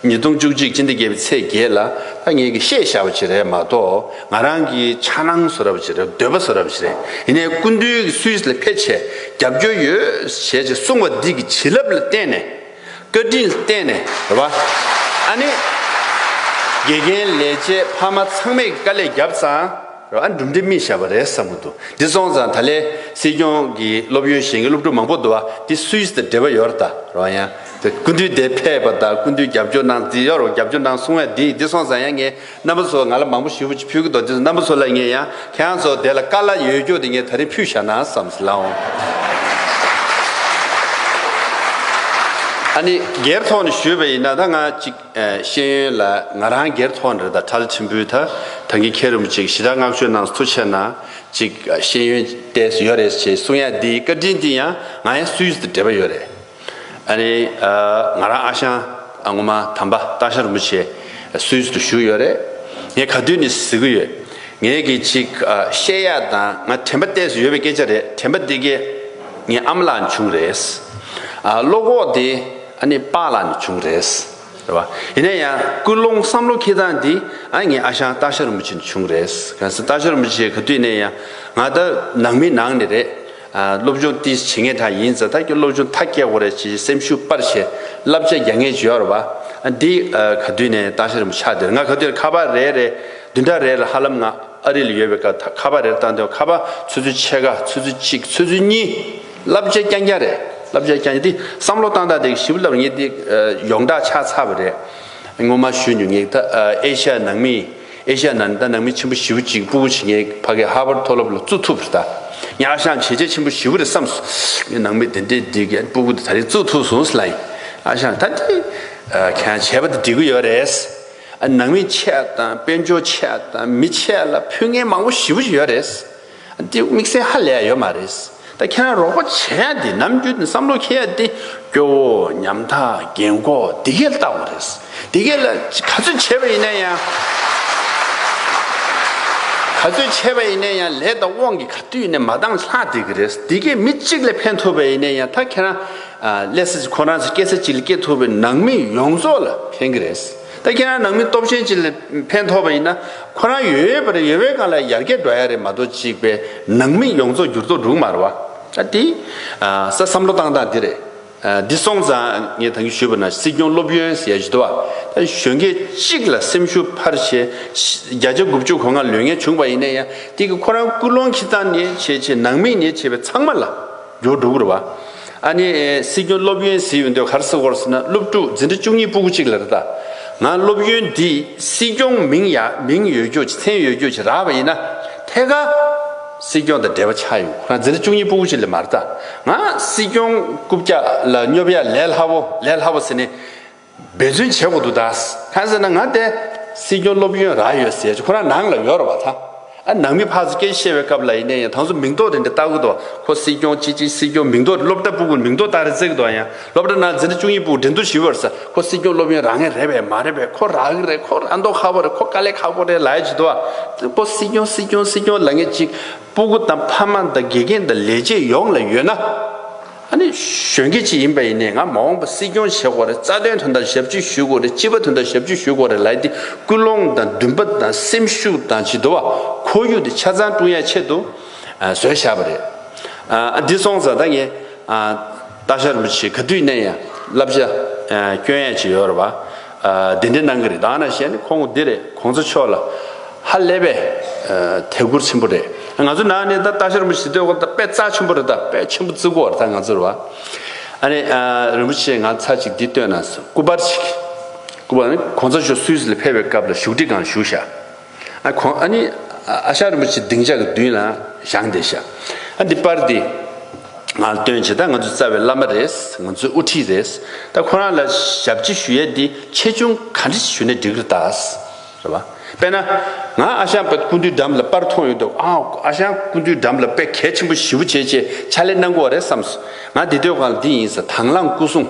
ཉིས་སྟོང་བཅུ་གཅིག་སྤྱི་ཟླ་བརྒྱད་པའི་ཚེས་བརྒྱད་ལ་ད་ངས་ཀྱི་བཤད་བཞག་པ་ཞིག་རེད་མ་གཏོགས་ང་རང་གི་ཆ་སྣང་བཟོ་ར་བ་ཞིག་རེད་འདོད་པ་བཟོ་ར་བ་ཞིག་རེད་ཡིན་ནའི་སྐུ་མདུན་གྱི་སུད་སི་ལ་ཕེབས་ཆེད་རྒྱབ་སྐྱོར་ཡོད་བྱད་ཅེས་གསུངས་པ་འདི་གི་བྱིན་རླབས་ལ་བརྟེན་ནས་བཀའ་དྲིན་ལ་བརྟེན་ནས་རེད་བ། ཨ་ནི་དགེ་རྒན་ལས་བྱེད་ཕ་མ་ཚང་མས་ཀྱི་དཀའ་ལས་བརྒྱབ་ཙང་རེད་བ་འགྲུབ་འབྲས་སྨིན་བཞག་པ་རེད་བསམ་གྱི་འདུག་འདི་སོང་ཙང་ད་ལས་སྲིད་སྐྱོང་གི་སློབ་ཡོན་གཞན་གྱི་སློབ་ཕྲུག་མང་པོ་འདུག་བ་འདི་སུད་སི་དང་འབྲེལ་བ་ཡོད་རེད་རེད་བ་ཡང། ཀུན་འདུས་དེ་ཕེབས་པ་དང་ཀུན་འདུས་རྒྱབ་སྐྱོར་གནང་འདི་ཡོ་རོབ་རྒྱབ་སྐྱོར་གནང་གསུང་བས་འདི་འདི་སོང་ཙང་ཡང་ངས་རྣམ་པ་ཚོ་ང་ལ་མང་པོ་ཞུ་ཕུལ་གྱི་འདུག་དེ་རྣམ་པ་ཚོ་ལ་ངས་ཡང་ཁྱེད་རང་ཚོ་དེ་ལ་དཀའ་སླ་ཡོད་རྒྱུ་དེ་ངས་ད་རིང་ཕུལ་བཞག་ན་བསམ་སྲིད་ལགས་འོང། ཨ་ནི་སྒེར་ཐོག་ནས་ཞུས་པ་ཡིན་ན་ད་ང་ཅིག་ཤེས་ཡོན་ལ་ང་རང་སྒེར་ཐོག་ནས་རེད་ད་ཁྲལ་ཆེན་པོའི་ད་ད་གིན་ཁྱེད་རིན་པོ་ཆེ་གི་ཞི་དྲག་བསྔགས་བརྗོད་གནང་ཐུ་ཆེ་ན་ཅིག་ཤེས་ཡོན་ལྟས་སུ་ཡོད་རེད་ཅེས་གསུང་ཡ་འདིའི་བཀའ་དྲིན་དེ་ཡང་ང་ཡང་སུའི་ཡུལ་དུ་འབྲེལ་པ་ཡོད་རེད། ཨ་རེད། ང་རང་ཨ་ཞང་ཨ་ངོ་མ་དམ་པ་སྟག་ཤར་རིན་པོ་ཆེ་སུའི་ཚུལ་དུ་བཞུགས་ཡོད་རེད། ངས་ག་དུས་ནས་གཟིགས་ཀྱི་ཡོད། ངས་ཀྱི་ཅིག་བཤད་ཡག་དང་ང་དྲན་པ་གཏད་སོ་ཡོད་པའི་སྐད་ཆ་རེད་དྲན་པ་འདི་གས་ངའི་ཨམ་ལག་ནས་བྱུང་རེད། བློ་ཁོག་དེ་ཨ་ནི་པགས་ལག་ནས་བྱུང་རེད། རེད་བ། ཡིན་ན་ཡང་ཀུན་སློང་བསམ་བློ་འཁེལ་སྟངས་འདི་ཨ་ངའི་ཨ་ཞང་སྟག་ཤར་རིན་པོ་ཆེ་ནས་བྱུང་རེད། གལ་སྲིད་སྟག་ཤར་རིན་པོ་ཆེ་ག་དུས་ནས་ཡང་ང་ལྟར་ནང་མི་ནང་ནས་རེད། སློབ་སྦྱོང་ཏི་བྱེད་ངེས་དག་ཡིན་ཛ་དག་གི་སློབ་སྦྱོང་ཐག་སྐྱེལ་དགོས་རེད་ཅེས་སེམས་ཤུགས་སྤར་ཞེས་བསླབ་བྱ་རྒྱག་ངེས་བྱེད་ཨོར་བ་འདི་ག་དུས་ནས་བཏང་ཤ་རིན་པོ་ཆགས་དེར་ང་ག་དུས་ལ་ཁ་པ་རེ་རེ་བདུན་ཕྲག་རེ་ལ་ཧ་ལམ་ང་ཨ་རི་ལ་ཡོད་པའི་སྐབས་ཁ་པ་རེར་བཏང་དོན་ཁ་པ་ཚོད་ཚོད་ཕྱེད་ཀ་ཚོད་ཚོད་གཅིག་ཚོད་ཚོད་གཉིས་བསླབ་བྱ་རྐྱང་རྐྱང་རེད་བསླབ་བྱ་རྐྱང་རྐྱང་འདི་བསམ་བློ་བཏང་དག་དེ་གི་ཞིབ་བསླབ་ངེས་འདི་ཡོངས་གྲགས་ཆགས་ཚར་བ་རེད་ངོ་མ་ཞུས་མྱོང་ངེས་ད་ཨེ་ཤ་ཡ་ནང་མི་ཨེ་ཤ་ཡ་ནང་ད་ནང་མི་ཆེན་པོ་བཞི་བོ་གཅིག་སྤུ་བོ་བྱེད་མཁན་གྱི་ཕ་གི་ཧར་བར་མཐོ་སློབ་ལ་བཙུགས་ཐུབ་པར་གདའ། གཉའ་ཤང་བྱེས་རྗེ་ཆེན་པོ་བཞི་བོ་རེད་བསམས་སོ། ངས་ནང་མི་དེ་འདྲའི་འདྲི་གི་སྤུ་གུ་དེ་ད་རིང་བཙུགས་ཐུབ་སོང་ཟེར་ལ། གཉའ་ཤང་ད་དེ་གང་བྱས་པ་དེ་འདྲི་གི་ཡོད་རེད། ནང་མི་ཆེ་དང་དཔལ་འབྱོར་ཆེ་དང་མི་ཆེ་ལ་ཕུལ་ངན་མང་བོ་བཞི་བོ་ཡོད་རེད། འདི་དམིགས་བསལ་ཧ་ལས་ཡོད་མ་རེད། ད་ཁྱེད་རང་རོགས་པ་བྱས་ཡ་དེ་ནམ་རྒྱུན་བསམ་བློ་འཁྱེར་ཡ་དེ་སྐྱོ་བོ་ཉམ་ཐག་རྒན་འཁོག་དེ་གས་ལྟ་བ་རེད། དེ་གས་ལ་ག་ཚོད་བྱས་པ་ཡིན་ན་ཡང་ག་ཚོད་བྱས་པ་ཡིན་ན་ཡང་ལས་དང་དབང་གིས་ག་དུས་ནས་མ་བཏང་ལྷག་བསྡད་ཀྱི་རེད། དེ་གས་མི་གཅིག་ལ་ཕན་ཐོབ་པ་ཡིན་ན་ཡང་ད་ཁྱེད་རང་ལས་ས་ཁོ་རང་ཚོ་སྐྱེ་ས་གཅིག་ལ་སྐྱེ་ཐུབ་པའི་ནང་མི་ཡོངས་རྫོགས་ལ་ཕན་གྱི་རེད། ད་ཁྱེད་རང་ནང་མི་སྟོབས་ཆེན་ཅིག་ལས་ཕན་ཐོགས་པ་ཡིན་ན། ཁོ་རང་ཡོད་ཡོད་པར་ཡོད་པའི་སྒང་ལ་ཡར་རྒྱས་འགྲོ་ཡ་རེད་མ་གཏོགས་གཅིག་པའི་ནང་མི་ཡོངས་རྫོགས་འགྱུར་ལྡོག་འགྲུག་མ་རུ་བ། ཨ་ཏི། ས་བསམ་བློ་བཏང་སྟངས་འདི་རེད། འདི་སོང་ཙང་ངས་ད་གིན་ཞུས་པ་ན་སྲིད་སྐྱོང་སློབ་ཡོན་ཟེར་ཡ་ཞིག་འདུག་བ། ད་གཞོན་སྐད་གཅིག་ལ་སེམས་ཤུགས་འཕར་བྱས། བརྒྱ་ཆ་དགུ་བཅུ་གོ་ལྔ་ལོས་ངན་བྱུང་བ་ཡིན་ན་ཡང་དེ་གིས་ཁོ་རང་སྐུལ་སློང་ཁྱི་ཚང་ནས་བྱས་བྱས་ནང་མི་ནས་བྱས་པའི་ཚང་མ་ལ། འགྱུར་འགྲོ་གི་རེད་བ། ཨ་ནི། སྲིད་སྐྱོང་སློབ་ཡོན་ཟེར་ཡོད་འདོད་ག་རེ་ཟེར་བར་ཟེར་ན་སློབ་ཕྲུག་འཛིན་གྲྭ་བཅུ་གཉིས་སྤུ་གུ་གཅིག་ལ་རེད་ད། ང་སློབ་ཡོན་འདི་སྲིད་སྐྱོང་མིང་ཡ་མིང་ཡོད་རྒྱུ་ཆ་མཚན་ཡོད་རྒྱུ་ཆ་རག་བ་ཡིན་ན། ཐད་ཀར། སྲིད་སྐྱོང་དང་འབྲེལ་བ་ཆགས་ཡོད་ཁོ་རང་འཛིན་གྲྭ་བཅུ་གཉིས་སྤུ་གུ་གཅིག་ལ་མ་རེད་ད། ང་སྲིད་སྐྱོང་རྐུབ་བཀྱག་ལ་སྙོབ་ཡ་ལས་སླ་བོ་ལས་སླ་བོ་ཟེར་ནས། འབད་བརྩོན་བྱེད་དགོས་འདུག་ད། ཁ་ཟེར་ན་ང་དེ། སྲིད་སྐྱོང་སློབ་ཡོན་རག་ཡོད་ཟེར་ཁོ་རང་ནང་ལ་ཡོད་ར་བ་ད། ཨ་ནང་མི་ཕག་ཚོ་སྐད་བཤད་བའི་སྐབས་ལ་ཡིན་ན་ཡང་དང་ཚོ་མིང་ཐོག་རེ་འདི་བཏགས་གི་འདུག་ཁོ་སྲིད་སྐྱོང་ཅི་ཅི་སྲིད་སྐྱོང་མིང་ཐོག་རེ་སློབ་གྲྭ་པུ་གུ་མིང་ཐོག་བཏགས་རེ་བརྩི་གི་འདུག་ཨ་ཡང་སློབ་གྲྭ་ནང་འཛིན་གྲྭ་བཅུ་གཉིས་པུ་གུ་འགྲན་སྡུར་ཞུས་པར་ས་ཁོ་སྲིད་སྐྱོང་སློབ་ཡོན་རག་ངེས་རེད་བས་མ་རེད་བས་ཁོ་རག་གི་རེད་ཁོ་རག་མདོག་ཁ་བོ་རེད་ཁོ་དཀའ་ལས་ཁག་པོ་རེད་ལ་ཡ་བྱས་འདུག་ཨ། ཁོ་སྲིད་སྐྱོང་སྲིད་སྐྱོང་སྲིད་སྐྱོང་ལ་ངེས་ཅིག་པུ་གུ་དང་ཕ་མ་དང་དགེ་རྒན་དང་ལས་བྱེད་ཡོངས་ལ་ཡོད་ན། ཨ་ནི་གཞོན་སྐྱེས་ཅིག་ཡིན་པ་ཡིན་ནའི་ང་མ་འོངས་པ་སྲིད་སྐྱོང་བྱེད་དགོས་རེད་རྩ་དོན་དོན་དག་ཞབས་ཕྱི་ཞུས་དགོས་རེད་སྤྱི་པ་དོན་དག་ཞབས་ཕྱི་ཞུས་དགོས་རེད་ལའི་དེ་ཀུན་སློང་དང་འདུན་པ་དང་སེམས་ཤུགས་དང་བྱི་དོ་བ་ཁོར་ཡུག་དེ་ཆ་ཚང་ཀྲུང་ཡ་ཆེད་དུ་བཟོས་བཞག་པ་རེད་ཨ་འདི་སོང་ཙང་ད་ངས་སྟག་ཤར་རིན་པོ་ཆེ་ག་དུས་ནས་ཡང་བསླབ་བྱ་སྐྱོན་ཡས་ཅིག་ཡོད་རེད་བ། དེ་འདྲའི་གནང་གི་རེད་ད་ང་ན་ཞེ་ནི་ཁོང་འདི་རེད་ཁོང་ཚོ་ཕྱོགས་ལ་ཧ་ལས་པའི་ཐད་གུར་ཆེན་པོ་རེད་ང་ཚོ་ནང་ནས་ད་ལྟ་ཤར་མོ་ཞི་སྟོད་གོ་ད་དཔེ་རྩ་ཆེན་པོ་རེད་ད་དཔེ་ཆེན་པོ་བརྩི་དགོ་ད་ང་ཚོར་བ་ཨ་ནི་རིན་པོ་ཆེ་ང་ཚར་ཅིག་འདི་བཏོན་ན་སྐུ་པར་ཞིག་སྐུ་པར་ནི་ཁོང་ཚོ་ཞོ་སུའུ་སི་ལ་ཕེབས་པའི་སྐབས་ལ་བཞུགས་ཁྲི་སྒང་བཞུགས་ཤག་ཁོང་ཨ་ནི་ཨ་ཤག་རིན་པོ་ཆེ་སྡིངས་ཆ་གི་མདུན་ལ་བཞག་འདི་ཤག་ཨ་འདི་པར་འདི་ང་ལ་སྟོན་བྱེད་ད་ང་ཚོའི་རྩ་བའི་བླ་མ་རེད་ང་ཚོའི་དབུ་ཁྲིད་རེད་ད་ཁོ་རང་ལ་ཞབས་ཕྱི་ཞུ་ཡས་འདི་ཆེ་ཆུང་ག་འདྲི་ཞུ་ནས་འགྲིག་རེད་ད་རེད་བ་དཔེ་ན་ང་ཨ་ཤག་པད་ཀུན་འདུས་འགྲམ་ལ་པར་མཐོང་ཡོད་འདུག་ཨའོ་ཨ་ཤག་ཀུན་འདུས་འགྲམ་ལ་དཔེ་གལ་ཆེན་པོ་བཞི་བོ་བྱས་ཆེད་ཕྱག་ལས་གནང་དགོས་བ་རེད་བསམས་སོ་ང་འདི་སྡོད་ཁང་ལ་འདི་ཡིན་ཟེར་དྭང་བླངས་སྐུ་སྲུང།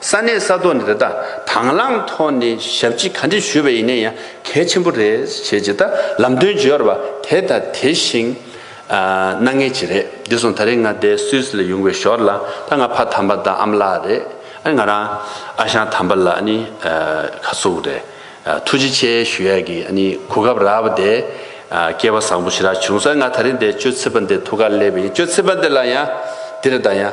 ས་གནས་ས་ཐོག་ནས་དེ་དག་དང་བླངས་ཐོག་ནས་ཞབས་ཕྱི་ག་འདྲི་ཞུས་པ་ཡིན་ན་ཡང་གལ་ཆེན་པོ་རེད་བྱས་ཇི་ལྟར་ལམ་སྟོན་བརྗོད་ཡོར་བ་དེ་ལྟ་དེ་བཞིན་གནང་ངེས་ཅི་རེད་དེ་བཟུང་ད་རེས་ང་བསྡད་སུད་ལ་ཡོང་བའི་ཞོར་ལ་ད་ང་ཕ་དམ་པ་དང་ཨམ་ལགས་རེད་ཨ་ང་རང་ཨ་ཞང་དམ་པ་ལགས་ནི་ཁ་སུག་རེད་ཐུགས་རྗེ་ཆེ་ཞུ་ཡག་གི་ནི་གོ་སྐབས་རག་བ་དེ་སྐལ་བ་བཟང་པོ་ཞིག་རག་བྱུང་སར་ང་ད་རེས་བསྡད་སྤྱོད་ཚིག་པ་འདི་ཐུགས་ཁ་སླེབས་པ་ཡིན་སྤྱོད་ཚིག་པ་འདི་ལ་ཡང་འདི་རེད་ད་ཡང།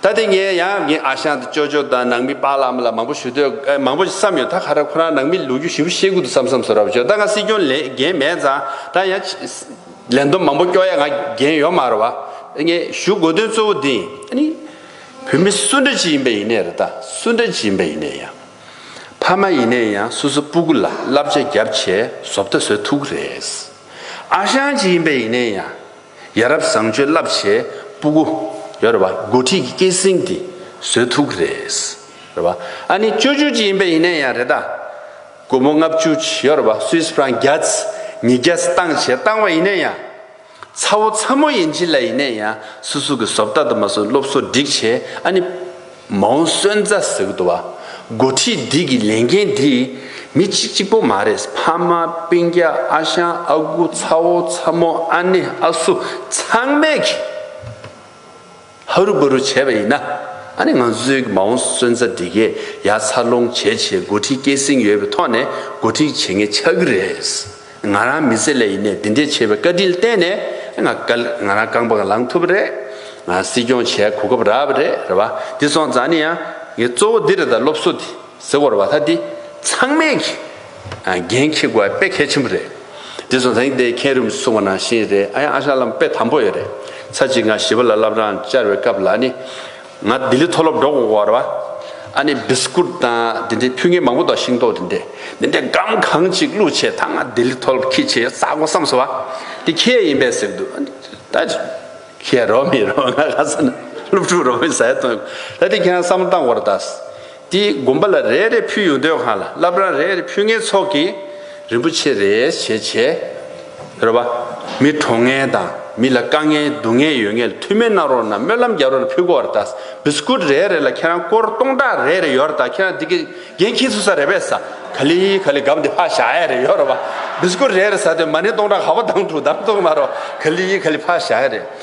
ད་ལྟ་ངས་ཡང་ངའི་ཨ་ཞང་དང་ཅོ་ཅོ་དང་ནང་མི་བག་ལམ་ལ་མང་པོ་ཞུ་འདོད་མང་པོ་བསམ་ཡོད་ད་ཁ་ར་ཁོ་རང་ནང་མི་ལུང་རྒྱུ་ཞིབ་ཤེས་ཁུལ་དུ་བསམ་བསམ་ཟོ་ར་བ་བྱོས་ད་ང་སྲིད་སྐྱོང་ལས་འགན་མེད་ཙང་ད་ཡང་ལས་འདོམས་མང་པོ་སྐྱོ་ཡ་ང་འགན་ཡོད་མ་ར་བ་ད་ངས་ཞུ་དགོས་དོན་གཙོ་བོ་འདི་ནི་བོད་མི་སུ་འདྲ་ཅིག་ཡིན་པ་ཡིན་ནའི་ར་ད་སུ་འདྲ་ཅིག་ཡིན་པ་ཡིན་ནའི་ཡང་ཕ་མ་ཡིན་ནའི་ཡང་སོ་སོ་སྤུ་གུ་ལ་བསླབ་བྱ་རྒྱབ་བྱས་བཟོ་བལྟ་བཟོས་ཐུག་གི་རེད་ཨ་ཞང་ཅིག་ཡིན་པ་ཡིན་ནའི་ཡང། ཡ་རབས་བཟང་སྤྱོད་རླབས་ཆེ་སྤུ་གུ། ཡོ་རེད་པ། འགོ་ཁྲིད་ཀྱི་སྐད་གསེང་དེ་བཟོད་ཐུག་གི་རེད། རེད་པ། ཨ་ནི་བཅོས་བསྒྱུར་གྱི་ཡིན་པས་ཡིན་ནའི་ཡང་རེད་ད། སྒོར་མོ་ལྔ་བཅུ་ཆི་ཡོ་རེད་པ་སུས་ཕྲང་བརྒྱད་ཉིས་བརྒྱ་བཏང་བྱས་བཏང་བ་ཡིན་ནའི་ཡང། ཚ་བོ་ཚ་མོ་ཡིན་གྱི་ལ་ཡིན་ནའི་ཡང་སུ་སུ་གི་བཟོ་བལྟ་དུ་མ་སུ་སློབ་གསོ་སྒྲིག་བྱས་ཨ་ནི། མ་འོངས་བསོད་རྫ་ཟེར་དུ་བ། འགོ་ཁྲིད་འདི་གི་ལས་འགན་འདི། མི་གཅིག་གཅིག་པོ་མ་རེད་ཕ་མ་དཔེ་རྒྱ་ཨ་ཞང་ཨ་ཁུ་ཚ་བོ་ཚ་མོ་ཨ་ནེ་ཨ་སུ་ཚང་མས་ཀྱི་ཧ་རུ་བ་རུ་བྱས་པ་ཡིན་ན་ཨ་ནི་ང་ཚོའི་གི་མ་འོངས་བསོད་རྫ་འདི་གས་ཡ་འཚར་ལོངས་བྱེད་ཆེད་འགོ་ཁྲིད་སྐྱེད་སྲིང་ཡོད་པའི་ཐོག་ནས་འགོ་ཁྲིད་བྱེད་ངེས་ཆགས་ཀྱི་རེད། ང་རང་མི་ཚེ་ལས་ཡིན་ནས་འདི་འདྲའི་ཆེ་བའི་བཀའ་དྲིན་བསྟན་ནས་ང་ང་རང་རྐང་པར་ལངས་ཐུབ་པ་རེད། ང་སྲིད་སྐྱོང་བྱས་གོ་སྐབས་རག་པ་རེད་རེད་བ། འདི་སོང་ཙང་ནི་ཡང་ངའི་གཙོ་བོ་འདི་རེད་ད་སློབ་གསོ་དེ་ཟེར་བར་བ་ད་འདི་ཚང་མས་གི་འགན་འཁྱེར་དགོས་པ་དཔེ་གལ་ཆེན་པོ་རེད། འདི་སོང་ཙང་ཡིན་དེ་མཁན་རིམ་སྲུང་བ་ནང་བཞིན་རེད་ཨ་ཡང་ཨ་ཞང་ལམ་དཔེ་དམ་པོ་ཡོད་རེད། ཚར་གཅིག་ང་ཞི་བ་ལ་བསླབ་རང་བཅར་བའི་སྐབས་ལ་ནི། ང་ལྡི་ལི་མཐོ་སློབ་འགྲོ་འོང་བར་བ་ཨ་ནི་སྦིས་ཀུར་དང་དེ་འདྲའི་ཕུལ་ངན་མང་པོ་དང་ཤིང་ཏོག་དེ་འདྲས་དེ་འདྲས་སྒམ་གང་གཅིག་བླུགས་བྱས་ད་ང་ལྡི་ལི་མཐོ་སློབ་ཁྱི་བྱས་ཟ་གོ་བསམས་སོ་བ་དེ་ཁྱེད་ཡིན་པས་ཟེར་འདུག་ཨ་ནི་ད་ཁྱེད་རོགས་མི་རོགས་ང་ལྷ་ས་ན་སློབ་ཕྲུག་རོགས་མི་ཟ་ཡ་དོན་གོ་ད་དེ་ཁྱེད་རང་བསམ་བློ་བཏང་བར་གདའ། དེས་དགོན་པ་ལ་རེ་རེ་ཕུལ་ཡོང་དོན་གང་ལ་བསླབ་རང་རེ་རེ་ཕུལ་ངའི་ཚོགས་ཀྱིས་རིན་པོ་ཆེ་རེ་བྱས་བྱས། རེ་བ། མི་གྲོངས་ངན་དང་མི་ལ་དཀའ་ངལ་སྡུག་ངལ་ཡོད་ངལ་ཐུ་མེད་གནང་རོགས་གནང་སྨོན་ལམ་རྒྱག་རོགས་ལ་ཕུལ་གོ་རེ་དཱས་བི་སི་ཀུད་རེ་རེ་ལ་ཁྱེད་རང་སྐོར་སྟོང་ཕྲག་རེ་རེ་ཡོད་རེ་དཱ་ཁྱེད་རང་འདི་གི་འགན་ཁྱེད་ཚོས་ས་རེ་བས་ས་ག་ལི་ག་ལི་གམ་འདི་ཕག་ཞག་ཡ་རེ་ཡོད་རེ་བ་བི་སི་ཀུད་རེ་རེ་ས་དེ་མ་ནི་སྟོང་ཕྲག་ག་བ་དང་དྲུག་དང་སྟོང་མ་རོ་ག་ལི་ག་ལི་ཕག་ཞག་ཡ་རེ།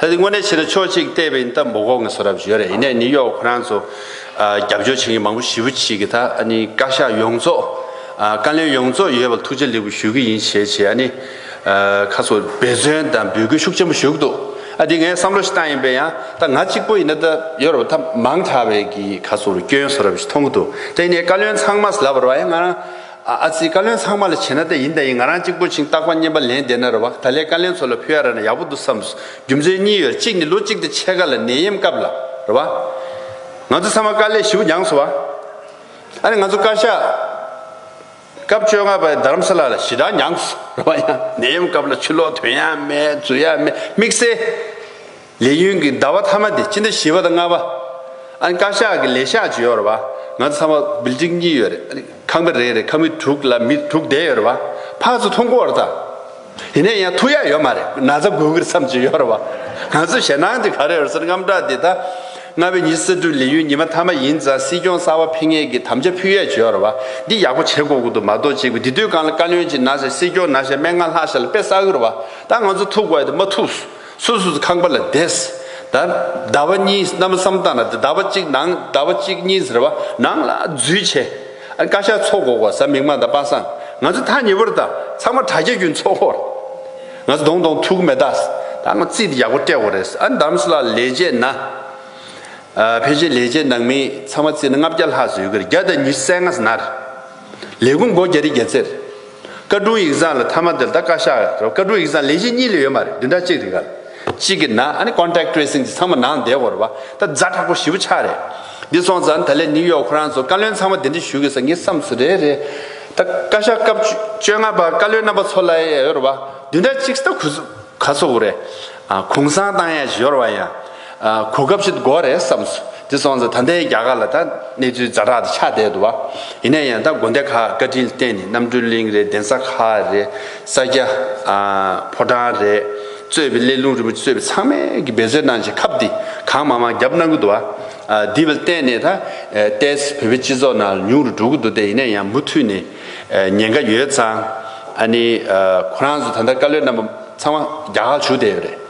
ད་དེ་དངོས་གནས་བྱས་ན་ཕྱོགས་གཅིག་བལྟས་པ་ཡིན་སྟབས་འབོ་གོག་ནས་སོ་རབ་བྱེད་རེད་ཡིན་ནས་ནི་གཡོག་ཁོ་རང་ཚོ་རྒྱབ་སྐྱོར་བྱེད་མཁན་མང་པོ་ཞི་བུ་བྱེད་ཀྱི་ད་ཨ་ནི་བཀའ་ཤག་ཡོངས་རྫོགས་བཀའ་བློན་ཡོངས་རྫོགས་ཡོད་པ་ཐུགས་རྗེ་ལེགས་པོ་ཞུ་གི་ཡིན་བྱས་བྱས་ཨ་ནི་ཁ་སོ་འབད་བརྩོན་དང་འབོད་སྐུལ་ཤུགས་ཆེན་པོ་ཞུ་གི་འདུག་ཨ་དེ་ངས་བསམ་བློ་ཞིག་བཏང་ཡིན་པས་ཡང་ད་ང་གཅིག་པོ་ཡིན་ན་ད་ཡོད་རེད་པ་ད་མང་དྲགས་བས་ཀྱི་ཁ་སོ་རུ་སྐྱོན་སོ་རབ་ཞིག་མཐོང་གི་འདུག་དེ་ནས་བཀའ་བློན་ཚང་མ་ལབ་པར་བ་ཡང་ང་རང་ཨ་ཨ་ཙི་བཀའ་བློན་ཚང་མ་ལ་བྱས་ན་ལྟ་ཡིན་ལྟ་ཡིན་ང་རང་གཅིག་པོ་ཆིང་རྟག་པ་སྙན་པ་ལན་བདེ་ན་རེ་བ་ད་ལས་བཀའ་བླན་ཚོ་ལ་ཕུལ་ཡ་ར་ན་ཡག་པོ་འདུག་བསམས་སོ་རྒྱུ་མཚན་གཉིས་ཡོད་རེད་གཅིག་ནི་ལོ་གཅིག་དེ་ཕྱེད་ཀ་ལ་ནད་ཡེམས་སྐབས་ལ་རེ་བ་ང་ཚོ་ཚང་མ་དཀའ་ལས་ཞིབ་འགྱངས་སོ་བ་ཨ་རེ་ང་ཚོ་བཀའ་ཤག་སྐབས་བཅོ་ལྔ་པ་རྡ་རམ་ས་ལ་ལ་ཞི་དྲག་འགྱངས་སོ་རེ་བ་ཡང་ནད་ཡེམས་སྐབས་ལ་ཆུ་ལོག་དོན་ཡང་མེད་རྫུན་ཡང་མེད་དམིགས་བསལ། ལས་ཡུན་གྱི་ཟླ་བ་ཐ་མ་དེ་སྤྱི་ཟླ་བཞི་བ་དང་ལྔ་བ། ཨ་ནི་བཀའ་ཤག་གི་ལས་ཤག་བྱེད་ཡོད་རེད་པ། ང་ཚོ་ཚང་མ་བིལ་ལྡིང་གཉིས་ཡོད་རེད། ཨ་ནི་ཁང་པ་རེ་རེར་ཁང་མིག་དྲུག་ལ་མི་དྲུག་བསྡད་ཡོད་རེད་པ། ཕར་ཚོ་ཐུག་འགོ་རེད་ད། དེ་ནས་ཡང་ཐུག་ཡ་ཡོད་མ་རེད། ན་ཚ་འགུལ་འགུལ་ཚམ་བྱེད་ཡོད་རེད་པ། ང་ཚོ་ཞེད་སྣང་དེ་ག་རེ་རེད་ཟེར་རྔམ་སྐྲག་དེ་ད། ལྔ་བའི་ཉིན་གསར་སྐྲུན་ལས་ཡུན་ཉི་མ་ཐ་མ་ཡིན་ཙང་སྲིད་སྐྱོང་གསར་བ་འཕེན་ངེས་ཀྱི་དམ་བཅའ་ཕུལ་ཡས་བྱེད་ཡོད་རེད་པ། འདི་ཡག་པོ་བྱེད་དགོས་ཀྱི་འདུག་མ་གཏོགས་གཅིག་པུ་འདི་དུས་གང་ལ་བཀའ་བློན་གྱི་ན་ཞེ་སྲིད་སྐྱོང་ན་ཞེ་མན་ངག་ལྷག་ཞེ་ལ་དཔེ་བསགས་ཡོད་རེད་པ། ད་ང་ཚོ་ཐུག་དགོས་ཡ་དེ་མ་ཐུགས། སོ་སོ་ཁང་པ་ལ་བསྡད། ད་ཟླ་བ་གཉིས་རྣམ་བསམ་བཏང་ན་ཟླ་བ་གཅིག་ནང་ཟླ་བ་གཅིག་གཉིས་ཟེར་བ་ནང་ལ་འཛུལ་བྱས། བཀའ་ཤག་ཚོགས་འགོག་བ་ས་མིག་མ་དང་པ་སངས་ང་ཚོ་ཐག་ཉེ་པོར་བཏགས་ཚང་མ་དྲ་རྒྱ་རྒྱུན་ཚོགས་འཁོར། ང་ཚོ་གདོང་གདོང་ཐུག་མེ་ད་ད་ང་རྩིས་ཡག་པོ་སྤྲད་འོ་རེད་ཨ་འདམ་སླ་ལས་བྱས་ན། ཕལ་ཆེར་ལས་བྱེད་ནང་མི་ཚང་མ་རྩིས་ན་ལྔ་བརྒྱ་ལྷག་ཟོས་གི་རེད་བརྒྱ་དང་ཉི་སད་ལྔ་ཟནར། ལས་ཁུངས་སྒོ་རྒྱ་རི་རྒྱ་ཚེར། བཀའ་དྲུང་ཡིག་ཚང་ལ་ཐ་མ་འདིར་ད་བཀའ་ཤག་རེད་བཀའ་དྲུང་ཡིག་ཚང་ལས་གཞི་གཉིས་ལས་ཡོད་མ་རེད་བདུན་ཕྲག་གཅིག་རེད་ག་ལ། གཅིག་གི་ནང་ཨ་ནི Contact Tracing དེ་ཚང་མ་ནང་བསྡད་དགོས་རེད་བ་ད་རྫ་དྲག་པོ་བཞི་བོ་ཆགས་རེད། འདི་སོང་ཙང་ད་ལས་ནིའུ་ཡོག་ཁོ་རང་ཚོ་བཀའ་བློན་ཚང་མ་དེ་འདྲི་ཞུ་དགོས་ས་ངེས་བསམ་སུ་རེད་རེད། ད་བཀའ་ཤག་སྐབས་བཅོ་ལྔ་པ་བཀའ་བློན་རྣམ་པ་ཚོ་ལ་ཡོད་རེད་བ་བདུན་ཕྲག་གཅིག་ད་གུས་ཚུ་ག་ཚོ་བོ་རེད། གུང་སང་བཏང་ཡག་ཞིག་ཡོད་རེད་བ་ཡང། གོ་སྐབས་ཤིག་ཏུ་གོ་བ་རེད་བསམས་སོ། དེ་སོང་ཙང་ད་ལྟའི་རྒྱ་གར་ལ་ད་གནས་ཚུལ་རྫ་དྲག་ཏུ་ཆགས་བསྡད་འདུག་བ། ཡིན་ན་ཡང་ད་དགོན་སྡེ་ཁག་བཀའ་དྲིན་བརྟེན་ནས་རྣམ་སྤྲུལ་གླིང་རེད་གདན་ས་ཁག་རེད་ས་སྐྱ། ཕོ་བྲང་རེད། གཙོས་པའི་གླེ་ལུང་རིན་པོ་ཆེ་གཙོས་པའི་ཚང་མས་ཀྱི་འབད་རྩོལ་གནང་བྱས་ཁབ་འདི་གང་མང་མང་བརྒྱབ་གནང་གི་འདུག་བ། འདི་བ་བརྟེན་ནས་ད་ལྟའི་བོད་པའི་སྤྱི་ཚོགས་ནང་ལ་ཉུང་རུ་འགྲོ་གི་འདུག་སྟེ་ཡིན་ན་ཡང་མུ་མཐུད་ནས་ཉེན་ཁ་ཡོད་ཙང། ཨ་ནི་ཁོ་རང་ཚོ་ད་ལྟ་བཀའ་བློན་རྣམ་པ་ཚང་མ་རྒྱ་གར་བྱུགས་བསྡད་ཡོད་རེད།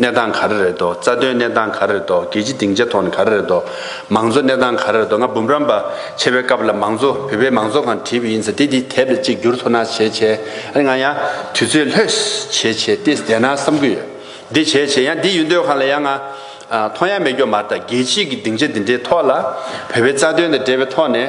གནས་སྟངས་ག་རེ་རེད་དོ། རྩ་དོན་གནས་སྟངས་ག་རེ་རེད་དོ། རྒྱལ་སྤྱི་སྡིངས་ཆ་ཐོག་ནས་ག་རེ་རེད་དོ། མང་གཙོ་གནས་སྟངས་ག་རེ་རེད་དོ། ང་འབུམ་རམས་པ་ཆེ་བའི་སྐབས་ལ་མང་གཙོ་བོད་པའི་མང་གཙོ་གང་བྲིས་པ་ཡིན་ཟེར་དེ་དེ་དེབ་ལ་གཅིག་བསྒྱུར་ཐོ་ན་བྱས་བྱས་ཨ་རེ་ང་ཡང་དུས་ཚོད་ལྷོད་བྱས་བྱས་ཏེ་བསྡད་ན་བསམ་གི་ཡོད། འདི་བྱས་བྱས་ཡང་འདི་ཡོད་འདོད་གང་ལ་ཡང་ང་མཐོང་ཡ་མེད་སྐྱོ་མ་རྟ་རྒྱལ་སྤྱི་གི་སྡིངས་ཆ་འདི་འདྲའི་ཐོག་ལ་བོད་པའི་རྩ་དོན་དང་འབྲེལ་བའི་ཐོག་ནས།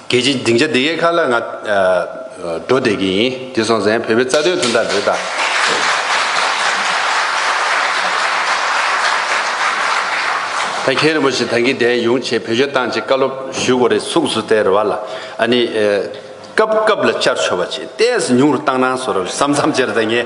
རྒྱལ་སྤྱིའི་སྡིངས་ཆ་འདི་གའི་ཁ་ལ་ང། འགྲོ་བསྡད་ཀྱི་ཡིན་དེ་སོང་ཟན་བོད་པའི་རྩ་དོན་དོན་དག་འདི་དང། ད་མཁན་རིན་པོ་ཆེ་ད་གིན་གདན་ཡོང་ཆེད་བོད་ཆོས་བཏང་ཆེད་བཀའ་སློབ་ཞུས་གོ་རེ་ཚུགས་སུ་སྟེར་བ་ལ་ཨ་ནི། སྐབས་སྐབས་ལ་བཅར་ཆོས་པ་ཆེད་གཏད་སུ་ཉུང་རུ་བཏང་གནང་སོ་རབས་སམ་མཚམས་བཅར་ད་ངས་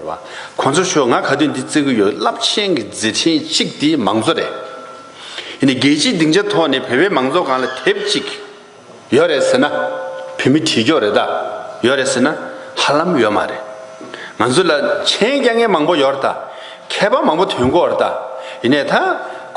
བ། ཁོང་ཚོ་ཤོག་ང་ག་དུས་འདི་བརྩི་གི་ཡོད་རླབས་ཆེན་གྱི་མཛད་འཕྲིན་གཅིག་དེ་མང་གཙོ་རེད། ཡིན་ནས་རྒྱལ་སྤྱིའི་སྡིངས་ཆ་ཐོག་ནས་བོད་པའི་མང་གཙོ་གང་ལ་དེབ་ཅིག་ཡོད་རེད་ཟེར་ན། བོད་མི་གྲི་གྱོག་རེ་དག་ཡོད་རེད་ཟེར་ན་ཧ་ལམ་ཡོད་མ་རེད། ང་ཚོ་ལ་མཆན་རྐྱང་རྐྱང་མང་པོ་ཡོད་རེད་ད། མཁས་པ་མང་པོ་དོན་གོ་རེད་ད། ཡིན་ནས་ད།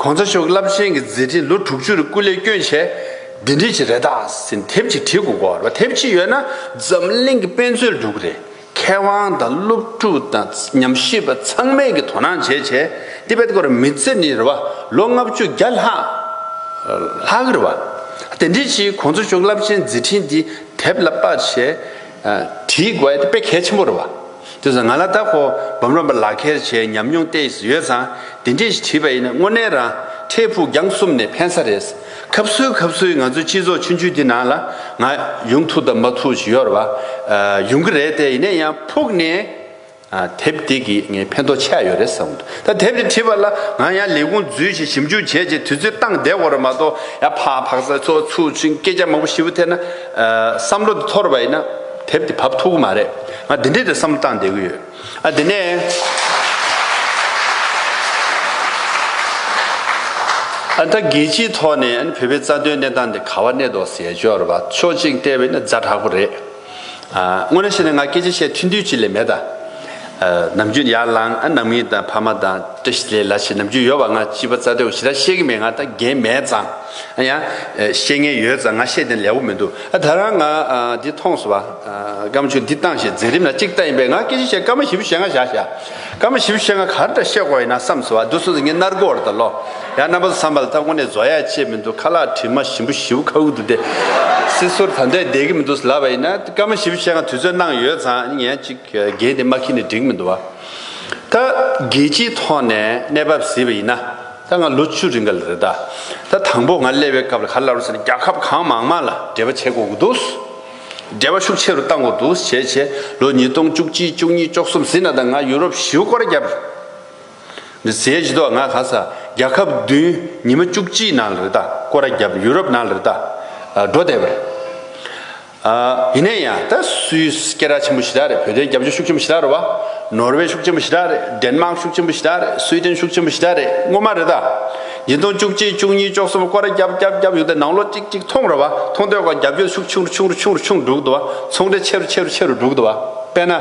ཁོང་ཚོ་ཤོག་རླབས་ཆེན་གྱི་མཛད་འཕྲིན་ལོ་དྲུག་ཅུ་རེ་སྐུ་ལས་བསྐྱོན་བྱས། འདི་འདྲི་བྱེད་རེད་ད་ཟེར་ནས་དེབ་ཅིག་བྲིས་དགོས་གོ་རེད་པ་དེབ་ཅིག་ཡོད་ན་འཛམ་གླིང་གི་དཔེ་མཛོད་འགྲུབ་གི་རེད། མཁས་དབང་དང་སློབ་ཕྲུག་དང་ཉམས་ཞིབ་པ་ཚང་མས་ཀྱིས་དོ་སྣང་བྱེད་ཆེད་ཏི་པད་སྐོར་མི་ཚེ་ནི་རེ་བ་ལོ་ལྔ་བཅུ་བརྒྱ་ལྷག་རེ་བ། དེ་འདྲའི་ཕྱིའི་གོ་འཛོལ་ཤོག་རླབས་ཅན་མཛད་འཕྲིན་འདི་དེབ་ལ་དཔར་ཆས་བྲིས་དགོས་ཡ་དཔེ་གལ་ཆེན་པོ་རེ་བ། དེ་བས་ང་ལ་ད་ཁོ་བམ་རོམ་པ་ལག་འཁྱེར་བྱས་ཉམས་མྱོང་ལྟས་ཡོད་ཙང་དེ་འདྲས་ཤིག་བྲིས་པ་ཡིན་ན་དངོས་གནས་རང་འཕྲལ་ཕུགས་རྒྱང་གསུམ་ནས་ཕན་ས་རེད། ཁབ་གསོལ་ཁབ་གསོལ་ང་ཚོའི་སྤྱི་ཚོགས་ཆུང་ཆུང་འདི་ནང་ལ་ང་ཡོང་ཐུག་དང་མ་ཐུག་ཞིག་ཡོད་རེད་བ། ཡོང་གི་རེད་དེ་ཡིན་ན་ཡང་ཕུགས་ནས་དེབ་དེ་གི་ངའི་ཕན་ཐོག་ཆད་ཡོད་རེད་བསམ་གི་འདུག་ད་དེབ་དེ་བྲིས་པ་ལ་ང་ཡང་ལས་ཁུངས་འཛུལ་ཞིང་ཞིབ་འཇུག་བྱས་རྗེས་དུས་ཚོད་བཏང་བསྡད་དགོས་རེད་མ་གཏོགས་ཡང་ཕག་ཕག་ཚ་ཚོགས་ཚུགས་ཤིང་སྐད་ཆ་མང་པོ་ཞིབ་ཐེར་ན་བསམ་བློ་འདི་འཐོར་བ་ཡིན་ན་དེབ་དེ་བབ་ཐུག་གི་མ་རེད་ང་འདི་འདྲའི་རེད་བསམ་བློ་བཏང་བསྡད་ཀྱི་ཡོད། དེ་ནས། ད་རྒྱལ་སྤྱིའི་ཐོག་ནས་བོད་པའི་རྩ་དོན་གནས་སྟངས་དེ་ག་བ་གནས་ཐོག་ཟས་སྦྱོར་བ་ཕྱོགས་གཅིག་བལྟས་པས་ན་རྫ་དྲག་པོ་རེད། དངོས་ནས་བཤད་ན་ང་སྐད་ཆ་བཤད་ཐུན་དུས་ཅི་ལས་མེད་ད། ནམ་རྒྱུན་ཡར་ལངས་ནམ་མིང་དང་ཕ་མ་དང་བཀྲ་ཤིས་ལེ་ལ་བྱེད་ནམ་རྒྱུན་ཡོལ་བ་ང་སྤྱི་པ་རྩ་དོན་འོ་ཞེ་དྲག་བཤད་གི་མེད་ང་ད་རྒན་མེད་ཙང། ཡང། ཤེས་ངེས་ཡོད་ཙང་ང་ཤེས་དེ་ལས་བོ་མི་འདུག་ཨ་ད་རང་ང་འདི་མཐོང་སོ་བ། སྐར་མ་ཆུང་འདི་བཏང་ཞེས་འཛིན་རིམ་ལ་གཅིག་བལྟ་ཡིན་པས་ང་སྐད་ཆ་བཤད་སྐར་མ་བཞི་བོ་ཤེས་ང་བཞག་བཞག། སྐར་མ་བཞི་བོ་ཤེས་ང་ག་རེ་འདྲ་བཤད་དགོས་ཡིན་ན་བསམ་སོ་བ་བསྡུ་སོང་ཟིག་ངས་མནར་གོར་དང་ལོ། ཡང་རྣམ་པ་ཚོ་བསམ་པ་ལ་ད་དངོས་གནས་བཟོ་ཡ་ཆེས་མི་འདུག་ཁ་ལག་དྲི་མ་ཞིམ་པོ་བཞི་བོ་ཁ་ཁུག་ཏུ་བསྡད། སྲིད་ཟུར་ད་འདོད་བསྡད་ཀྱི་མི་འདུག་ལབ་པ་ཡིན་ན་སྐར་མ་བཞི་བོ་ཤེས་ང་དུས་ཚོད་གནང་ཡོད་ཙང་ངས་གཅིག་འགན་དེ་མ་ཁྱེར་ནས་འགྲིག་གི་མི་འདུག་བ། ད་རྒྱལ་སྤྱིའི་ཐོག་ནས་གནས་བབ་གཟིགས་པ་ཡིན་ན། ད་ང་ལོ་བཅུ་རེ་འགའ་ལ་རེད་ད། ད་དང་པོ་ང་སླེབས་པའི་སྐབས་ལ་ག་ལ་རུ་ཟེར་ན་རྒྱ་ཁབ་གང་མང་མང་ལ་འབྲེལ་བ་བྱེད་དགོས་ཀྱི་འདུག། འབྲེལ་བ་ཤུགས་ཆེ་རུ་གཏང་དགོས་འདུག་བྱས་བྱས་ལོ་ཉིས་སྟོང་བཅུ་གཅིག་བཅུ་གཉིས་བཅོ་གསུམ་ཟིན་ན་ད་ང་ཡུ་རོབ་བཞིའུ་སྐོར་བརྒྱབ། འདི་ཟས་ཀྱི་ཐོག་ང་ག་ས་རྒྱ་ཁབ་བདུན་ཉི་མ་བཅུ་གཅིག་ནང་ལ་རེད་ད་སྐོར་བརྒྱབ་ཡུ་རོབ་ནང་ལ་རེད་ད་འགྲོ་བསྡད་པ་རེད། ཡིན་ན་ཡང་ད་སུའི་སྐད་ར་ཆེན་པོ་ཞི་དྲག་རེད་བོད་དོན་རྒྱབ་སྐྱོར་ཤུགས་ཆེན་པོ་ཞི་དྲག་རེད་བ། ནོར་ཝེ་ཤུགས་ཆེན་པོ་ཞི་དྲག་རེད་འདན་མག་ཤུགས་ཆེན་པོ་ཞི་དྲག་རེད་སུའི་ཏན་ཤུགས་ཆེན་པོ་ཞི་དྲག་རེད་ངོ་མ་རེད་ད། འདི་སྟོང་བཅུ་གཅིག་བཅུ་གཉིས་བཅོ་གསུམ་ཀོ་ར་རྒྱབ་རྒྱབ་རྒྱབ་ཡོང་ད་ནང་ལོ་ཅིག་ཅིག་ཐོང་རེད་བ་ཐོང་དོད་ཀོ་རྒྱབ་སྐྱོར་ཤུགས་ཆུང་རུ་ཆུང་རུ་ཆུང་རུ་ཆུང་འགྲོ་གི་འདུག་བ་ཚོང་འབྲེལ་ཆེ་རུ་ཆེ་རུ་ཆེ་རུ་འགྲོ་གི་འདུག་བ་དཔེ་ན།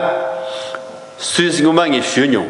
སུའི་སི་ངོ་མ་ངས་ཞུས་མྱོང།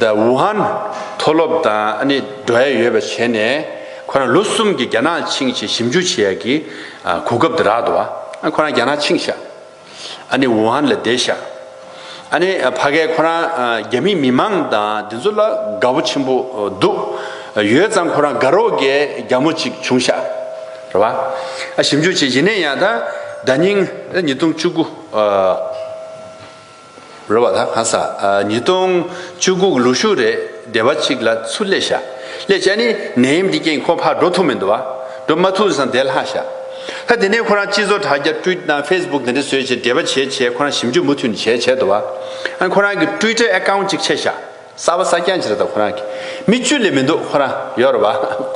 ཟླ་ཝུ་ཧན་མཐོ་སློབ་དང་འབྲེལ་བ་ཡོད་པ་བྱས་ནས་ཁོ་རང་ལོ་གསུམ་གྱི་རྒྱ་ནག་ཆིངས་ཆེད་ཞིབ་འཇུག་བྱེད་ཡག་གི་གོ་སྐབས་དེ་རག་འདུག་ཨ་ཁོ་རང་རྒྱ་ནག་ཆིངས་ཤག་ཝུ་ཧན་ལ་བསྡད་ཤག་ཕ་གས་ཁོ་རང་རྒྱ་མི་མི་མང་དང་དེ་ཚོ་ལ་དགའ་བོ་ཆེན་པོ་འདུག་ཡོད་ཙང་ཁོ་རང་དགའ་རོགས་གས་རྒྱ་མོ་ཅིག་བྱུང་ཤག་ར་བ་ཞིབ་འཇུག་བྱེད་ཡིན་ནས་ཡང་ད་ཉིང་ཉིས་སྟོང་བཅུ་དགུ། རོལ་བ་ལ་གང་ཟག་ཉིས་སྟོང་བཅུ་དགུག་ལུག་ཤུགས་རེ་བདེ་བ་གཅིག་ལ་ཚུར་སླེ་བྱ། སླེ་བྱ་ནི་ནད་ཡམས་ཀྱི་རྐྱེན་ཁོ་ཕར་འགྲོ་ཐུབ་མི་འདུག་བ། འགྲོ་མ་ཐུབ་ཟང་དེ་ལྷག་བྱ། ད་དེ་ནས་ཁོ་རང་སྤྱི་ཚོགས་དྲ་རྒྱ་ཏྲུའི་ཏང་ཧྥེས་བུག་དེ་འདྲ་བཟོས་བྱས་འབྲེལ་བ་བྱས་བྱས་ཁོ་རང་ཞིབ་འཇུག་མུ་མཐུད་ནས་བྱས་བྱས་འདུག་བ། ཨ་ནི་ཁོ་རང་གི་ཏྲུའི་ཏྲའི་ཨེ་ཀའུ་ཅིག་ཕྱེ་བྱ། གསར་བ་གསར་རྐྱང་ཅི་རེད་ད་ཁོ་རང་གི་མི་བཅུ་ལས་མི་འདུག་ཁོ་རང་ཡོད་རེད་བ་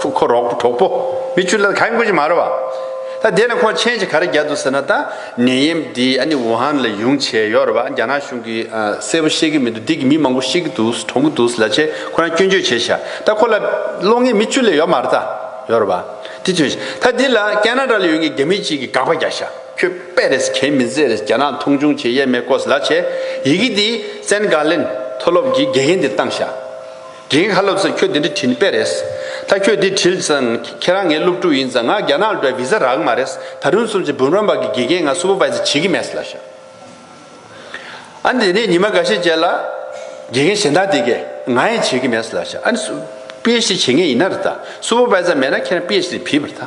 ཁོ་ཁོ་རོག་གྲོགས་པོ་མི་བཅུ་ལས་ད་ག་རེ་མགོ་ཅིག་མ་རེད་བ། ད་དེ་ནས་ཁོ་མཆན་ཅིག་ག་རེ་རྒྱག་འདུག་ཟེར་ན་ད་ནད་ཡེམ་འདི་ཨ་ནི་ཝུ་ཧན་ལས་ཡོང་བྱས་ཡོད་རེད་བ་རྒྱ་ནག་གཞུང་གིས་གསལ་པོ་ཤེས་གི་མི་འདུག་འདི་གི་མི་མང་པོ་ཤི་གི་འདུག་གྲོངས་གི་འདུག་ལ་ཆེ་ཁོ་རང་སྐྱོན་བརྗོད་བྱས་ཤག་ད་ཁོ་ལ་བློ་ངན་མི་བཅུ་ལས་ཡོད་མ་རེད་ད་ཡོད་རེད་བ་དེ་དོན་ཤག་ད་འདི་ལ་ཀན་ན་ར་ལ་ཡོད་ངེས་རྒྱ་མི་གཅིག་གིས་དགག་པ་རྒྱག་ཤག། ཁྱོད་དཔེ་རེད་གལ་མི་མཛེས་རེད་རྒྱ་ནག་མཐོང་ཆུང་བྱེད་ཡས་མས་ཀོས་ལ་བྱས། ཡི་གེ་འདི་ཙན་དགའ་ལེན་མཐོ་སློབ་ཀྱི་དགེ་རྒན་འདིར་བཏང་བཞག། དགེ་རྒན་ཁ་སློབ་ཚོས་ཁྱོད་འདི་འདྲ་བྲིས་ནི་དཔེ་རེད། ད་ཁྱོད་འདི་བྲིས་ཙང་ཁྱེད་རང་ངའི་སློབ་ཕྲུག་ཡིན་ཙང་ང་རྒྱ་ནག་ལ་འགྲོ་བའི་བི་ཟ་རག་གི་མ་རེད། ད་རུང་སུམ་ཅུ་བུམ་རམ་པ་གི་དགེ་རྒན་ང་སུ་པོ་པ་ཙི་བྱེད་ཀི་མེད་ལ་བཞག། ཨ་ནི་དེ་ནས་ཉི་མ་འགའ་ཤས་རྗེས་ལ། དགེ་རྒན་གཞན་དག་དེ་གས་ང་ཡིན་བྱེད་ཀི་མེད་ལ་བཞག་ཨ་ནི། སུ། པི་ཨེ་ཤི་བྱེད་ངེས་ཡིན་ན་རེད་ད། སུ་པོ་པ་ཙི་མེད་ན་ཁྱེད་རང་པི་ཨེ་ཤི་རི་བིས་པར་ད།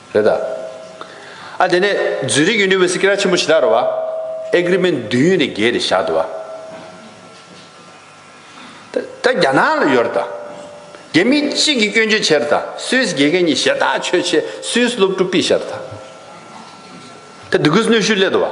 རེད་ད། ཨ་དེ་ནས་ཛུ་རིག་ཡུ་ནི་ཝེ་སི་ཀི་ར་ཆེན་པོ་ཇི་ལྟར་རོ་བ། ཨེ་གི་རི་མེན་བདུན་ཡོད་ནས་བརྒྱད་རེད་བཞག་འདུག་བ། ད་ད་རྒྱ་ནག་ལ་ཡོད་རེད་ད། རྒྱ་མི་གཅིག་གིས་སྐྱོན་བརྗོད་བྱས་རེད་ད་སུད་སི་རྒྱལ་ཁའི་གཉིས་ཞེ་ཐག་ཆོད་ཆེ་སུད་སི་སློབ་ཕྲུག་པིས་བཞག་རེད་ད། ད་དུ་གུས་གནོད་ཤུལ་སླེད་འདུག་བ།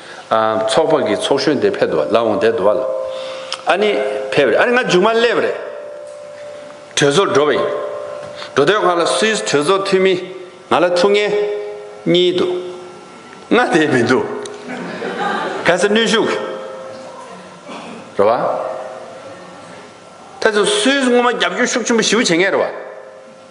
ཚོགས་པ་གི་ཚོགས་གཞོན་དེ་ཕེབས་འདུག་བ་ལ་འོང་བསྡད་འདུག་བ་ལ། ཨ་ནི་ཕེབས་རེད་ཨ་ནི་ང་མཇུག་མ་སླེབས་པ་རེད། གྲོས་ཚོགས་འགྲོ་བ་ཡིན། འགྲོ་དོན་ང་ལ་སུད་གྲོས་ཚོགས་འཐུས་མི་ང་ལ་ཐུག་ངེས། གཉིས་འདུག་ང་བསྡད་མི་འདུག། གལ་སྲིད་ནུས་ཤུགས། རེད་བ། ཐེ་ཚོམ་སུད་ངོ་མ་རྒྱབ་སྐྱོར་ཤུགས་ཆེན་པོ་ཞུ་བྱེད་ངེས་རེད་བ།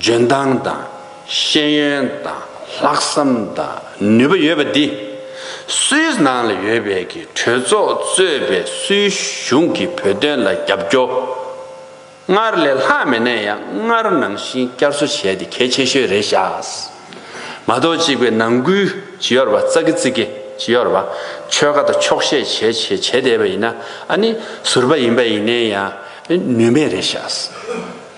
འཇོན་ཐང་དང་ཤེས་ཡོན་དང་ལྷག་བསམ་དང་ནུས་པ་ཡོད་པ་འདི། སུད་ནང་ལ་ཡོད་པའི་གི་གྲོས་ཚོགས་གཙོས་པའི་སུད་གཞུང་གི་བོད་དོན་ལ་རྒྱབ་སྐྱོ། སྔར་ལས་ལྷག་མེད་ནས་ཡང་སྔར་ནང་བཞིན་བསྐྱར་གསོ་བྱས་ཏེ་གལ་ཆེ་ཤོས་རེད་ཤགས། མ་གཏོགས་གཅིག་པའི་ནང་ཁུལ་ཇི་ཡོར་བ་ཙག་གི་ཙིག་གི་ཇི་ཡོར་བ་ཆོལ་ཁ་དང་ཆོག་ཤེས་བྱས་བྱས་བྱས་བསྡད་པ་ཡིན་ན་ཨ་ནི་ཟུར་པ་ཡིན་པ་ཡིན་ནས་ཡང་ནུས་མེད་རེད་ཤགས།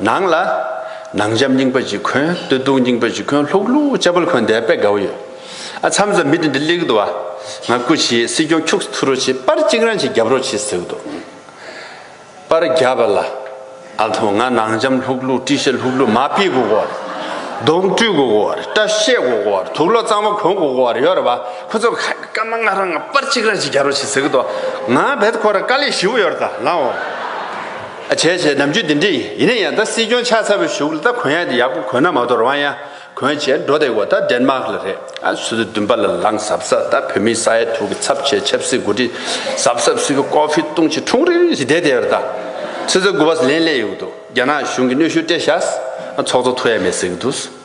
ནང་ལ། ནང་འཇམ་རྙིང་པ་ཅིག་འཁོན་སྟོད་སྡུག་རྙིང་པ་ཅིག་འཁོན་ལྷུག་ལྷུག་ལྕགས་པོར་འཁོན་བསྡད་པའི་དགའ་བོ་ཡོད། ཨ་མཚམས་སུ་མི་དེ་འདི་གླེགས་འདུག་ཨ། ང་སྐུ་བྱེད་སྲིད་སྐྱོང་ཁྱུགས་ཐུ་རོ་བྱེད་པར་གཅིག་རང་གཅིག་རྒྱབ་རོགས་བྱེད་ཟེར་གི་འདུག་པར་རྒྱབ་པ་ལ། ཨ་མཐོང་ང་ནང་འཇམ་ལྷུག་ལྷུག་བཀྲིས་ཤ་ལྷུག་ལྷུག་མ་སྤིས་དགོ་གོ་བར། གདོང་བཀྲུས་དགོ་གོ་བར་སྐྲ་བཤད་གོ་གོ་བར་དུག་ལོག་གཙང་མ་གོན་གོ་གོ་བར་ཡོད་རེད་བ། ཁོ་ཚོ་ཁ་ཡི་སྐར་མ་ལྔ་རང་ང་པར་གཅིག་རང་གཅིག་རྒྱབ་རོགས་བྱེད་ཟེར་གི་འདུག་ང་བལ་ཁོ་ར་དཀར་ལེགས་བཞི་བོ་ཡོད་རེད་ད་ལགས་འོ། བྱས་བྱས་ནམ་རྒྱུན་འདི་འདྲ་ཡིན་ཡིན་ན་ཡང་ད་སྲིད་སྐྱོང་ཆགས་ཚར་བའི་གཞུག་ལ་ད་གོན་ཡག་འདི་ཡག་པོ་གོན་ན་མ་དོར་བ་ཡང་གོན་བྱས་འགྲོ་བསྡད་དགོས་ད་འདྲེན་མག་ལ་རེད་ཨ་སུ་དེ་བདུན་པ་ལ་ལང་ཟབ་ཟབ་ད་བོད་མི་ས་ཡ་དྲུག་གི་ཚབ་བྱས་ཆབ་སྲིད་འགོ་ཁྲིད་ཟབ་ཟབ་སུ་བོད་ཀོ་ཕི་བཏུང་བྱས་འཁྲུངས་རིག་རིག་ཞིག་བསྡད་བསྡད་པར་ད་སེ་ཚོ་དགུ་བ་ལན་སླེ་ཡོད་འདུག་རྒྱ་ནག་གཞུང་གི་གནོད་ཤུགས་སྤྲད་བཞག་ཨ་ཚོགས་གཙོ་ཐུག་ཡ་མེད་ཟེར་གི་འདུག།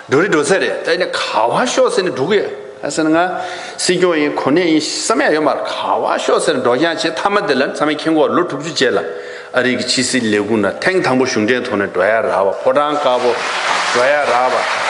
འགྲོ་རེད་འགྲོ་ས་རེད་ད་ཡིན་ན་ག་བ་ཤོག་ཟེར་ནས་འགྲོ་གི་ཡོད་ད་ཟེར་ན་ང་སྲིད་སྐྱོང་ཡིན་གོ་གནས་ཡིན་བསམ་ཡག་ཡོད་མ་རེད་ག་བ་ཤོག་ཟེར་ནས་འགྲོ་རྐྱང་བྱས་མཐའ་མ་དེ་ལ་ཚང་མས་མཁྱེན་གོ་ལོ་དྲུག་ཅུ་རྗེས་ལ་ཨ་རིག་གི་ཕྱི་སྲིད་ལས་ཁུངས་ན་ཐེངས་དང་པོ་གཞུང་འབྲེལ་ཐོག་ནས་འགྲོ་ཡག་རག་བ་ཕོ་བྲང་དཀར་པོ་འགྲོ་ཡག་རག་བ་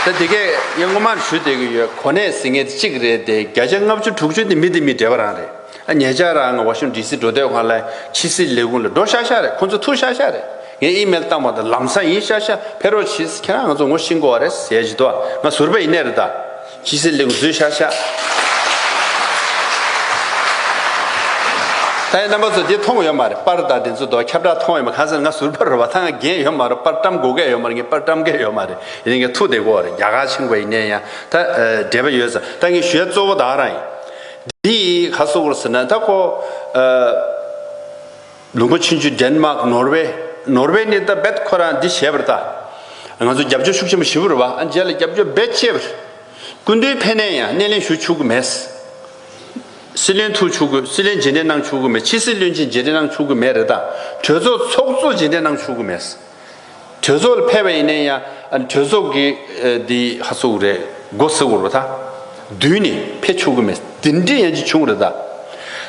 ད་དེ་གས་ངས་སྔོན་མར་ཞུ་བསྡད་གི་ཡོད་གོ་གནས་ཟེར་མཁན་དེ་གཅིག་རེད་དེ་བརྒྱ་ཆ་ལྔ་བཅུ་དྲུག་ཅུ་དེ་མི་དེ་མི་བགྲེས་པ་རང་རེད་ཨ་ཉེ་ཆར་རང་ང་ཝ་ཤུང་ལྡི་སི་འགྲོ་སྡོད་ཁང་ལ་ཕྱི་སྲིད་ལས་ཁུངས་ལ་འགྲོ་ཤག་ཤག་རེད་ཁོང་ཚོ་ཐུག་ཤག་ཤག་རེད། ངས་ཨི་མེལ་བཏང་བ་དང་ལམ་སང་ཡིན་ཤག་ཤག་ཕེ་རོ་ཆིས་ཁྱེད་རང་ང་ཚོ་ངོ་ཤེས་མགོ་བ་རེད་ཟེར་བཞིན་དུ་ང་ཟུར་པ་ཡིན་ནའི་རེད་ད་ཅི་ཟེར་ལེགས་བཟོས་ཤག་ཤག། ད་ཡིན་རྣམ་པ་ཚོ་འདི་མཐོང་ཡོད་མ་རེད་པར་ད་དེ་ཚོ་དོ་ཁྱབ་བསྒྲགས་མཐོང་ཡོད་མ་གང་ཟེར་ང་ཟུར་པ་རེད་བ་ད་ང་རྒན་ཡོད་མ་རེད་པར་བཀྲམ་དགོས་སྐལ་ཡོད་མ་རེད་ངས་པར་བཀྲམ་སྐལ་ཡོད་མ་རེད་ཡིན་ནའི་ངས་ཐུགས་དེ་མགོ་བ་རེད་རྒྱ་གར་ཆེན་མགོ་བ་ཡིན་ནའི་ཡང་ད་འབྲེལ་བ་ཡོད་ཟ་ད་ངས་ཞུས་ཡ་གཙོ་བོ་ད་རང་ཡིན་འདི་ཡིས་ག་སོ་བོར་ཟེར་ན་ད་ཁོ། ལུང་པ་ཆུན་ཆུན་དན་མག་ནོར་བྷེ། Norway། ནས་ད་བེད་ཁོ་རང་འདི་བྱས་པར་ད། ང་ཚོ་རྒྱབ་སྐྱོར་ཤུགས་ཆེན་པོ་ཞི་བུ་རུ་བ་ཨ་མཇལ་ལ་རྒྱབ་སྐྱོར་བེད་སྤྱད་པར། སྐུ་མདུན་ཕེ་ནན་ཡང་སྣེ་ལེན་ཞུ་ཆུག་གི་མེད། སྲིད་བློན་ཐུག་ཆུག་གི་སྲིད་བློན་རྗེས་འདེད་གནང་ཆུག་གི་མེད་ཕྱི་སྲིད་བློན་ཆེན་རྗེས་འདེད་གནང་ཆུག་གི་མེད་རེད་ད་གྲོས་ཚོགས་ཚོགས་གཙོ་རྗེས་འདེད་གནང་ཆུག་གི་མེད། གྲོས་ཚོགས་ལ་ཕེབས་པ་ཡིན་ནའི་ཡང་གྲོས་ཚོགས་ཀྱི་དེ་ཧ་ཚོགས་རེད་སྒོ་ཟེར་བོར་བ་ད་བདུན་ནས་ཕེབས་ཆོག་གི་མེད་དེ་འདྲའི་ཡང་ཅི་བྱུང་རེད་ད་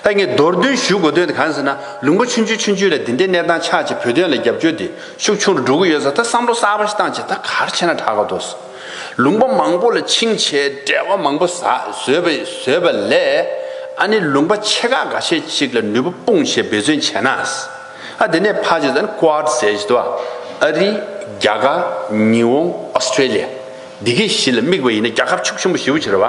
ད་ངས་རྡོར་འདོན་ཞུ་དགོས་དོན་དེ་གང་ཟེར་ན་ལུང་པ་ཆུང་ཆུང་ཆུང་ཆུང་ལས་དེ་འདྲའི་གནས་སྟངས་ཆགས་ཆེ་བོད་དོན་ལ་རྒྱབ་སྐྱོར་དེ་ཤུགས་ཆུང་རུ་འགྲོ་གི་ཡོད་ས་ད་བསམ་བློ་གསར་པ་ཞིག་བཏང་བྱས་ད་གར་བྱས་ན་དྲག་ག་འདུག་ལུང་པ་མང་པོ་ལ་འཆིང་བྱས་བྲེལ་བ་མང་པོ་བཟོས་བཟོས་པ་ལས་ཨ་ནི་ལུང་པ་ཆེ་ཁག་འགའ་ཤས་ཅིག་ལ་ནུས་པ་སྤུངས་བྱས་འབད་བརྩོན་བྱས་ན་ཨ་དེ་ནས་ཕ་ཇི་དང་ཀུའར་ཟས་བཞི་དུ་བ་ཨ་རི་རྒྱ་གར་ཉི་འོང Australia འདི་གའི་གཞི་ལ་དམིགས་པ་ཡིན་ན་རྒྱ་ཁབ་ཕྱུག་ཆེན་པོ་བཞི་བོ་བྱེད་ར་བ་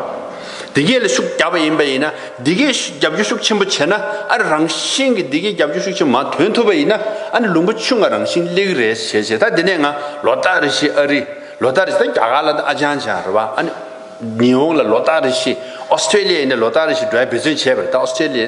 འདི་གའི་ལ་ཤུགས་རྒྱག་པ་ཡིན་པ་ཡིན་ན་འདི་གའི་རྒྱབ་སྐྱོར་ཤུགས་ཆེན་པོ་བྱེད་ན་ཨ་རི་རང་བཞིན་གྱི་འདི་གའི་རྒྱབ་སྐྱོར་ཤུགས་ཆེན་པོ་མ་དོན་ཐུབ་པ་ཡིན་ན་ཨ་ནི་ལུང་པ་ཆུ་ང་རང་བཞིན་གླེགས་རེས་བྱེད་བྱེད་ད་དེ་ནས་ང་ལོ་ཏག་རེ་བཞི་ཨ་རི་ལོ་ཏག་རེ་བཞི་ད་རྒྱ་གར་ལ་ཨ་ཅང་ཅང་ར་བ་ཨ་ནི་ཉི་འོང་ལ་ལོ་ཏག་རེ་བཞི Australia ཡིན་ན་ལོ་ཏག་རེ་བཞི་འགྲོ་བའི་འབད་བརྩོན་བྱས་པ་རེད་ད Australia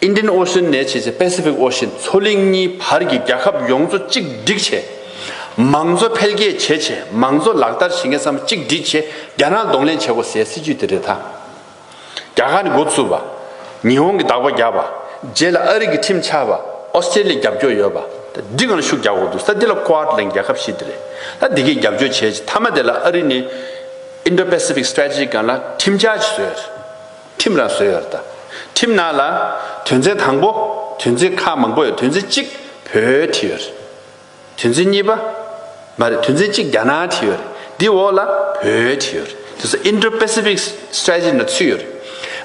Indian Ocean ནས་བྱས་ཚེ Pacific Ocean མཚོ་གླིང་གཉིས་བར་གྱི་རྒྱལ་ཁབ་ཡོངས་གཙོ་གཅིག་སྒྲིག་བྱེད། མང་གཙོ་འཕེལ་རྒྱས་བྱེད་ཆེད་མང་གཙོ་ལག་བསྟར་བྱེད་མཁན་ཚང་མ་གཅིག་སྒྲིག་ཆེད་རྒྱ་ནག་གདོང་ལེན་བྱེད་དགོས་ཟེར་སྲིད་ཇུས་དེ་རེད་ད། རྒྱ་གར་ནི་འགོ་བཙུགས་པ། ཉི་ཧོང་གིས་བདག་པོ་བརྒྱབ་པ། རྗེས་ལ་ཨ་རི་གིས་ཁྲིམས་ཆགས་པ། Australia རྒྱབ་སྐྱོར་ཡོད་པ། ད་འདི་གང་ཤུགས་རྒྱག་དགོས་འདུག་ས་འདི་ལ Quad ལེན་རྒྱལ་ཁབ་བཞི་དེ་རེད་ད་འདི་གས་རྒྱབ་སྐྱོར་བྱེད་མཐའ་མ་དེ་ལ་ཨ་རི་ནི Indo Pacific Strategic གང་ལ་ཁྲིམས་ཆགས་བཟོས། ཁྲིམས་ར་བཟོས་ཡོད། ཁྲིམས་ནང་ལ། དོན་ཚན་དང་པོ། དོན་ཚན་ཁག་མང་པོ་ཡོད་དོན་ཚན་གཅིག། བོད་བྲིས་ཡོད། དོན་ཚན་གཉིས་པ། མ་རེད་དོན་ཚན་གཅིག་རྒྱ་ནག་བྲིས་ཡོད། དེའི་འོག་ལ། བོད་བྲིས་ཡོད། དེ་སྲིད Indo Pacific Strategy ནང་ཚུད་ཡོད།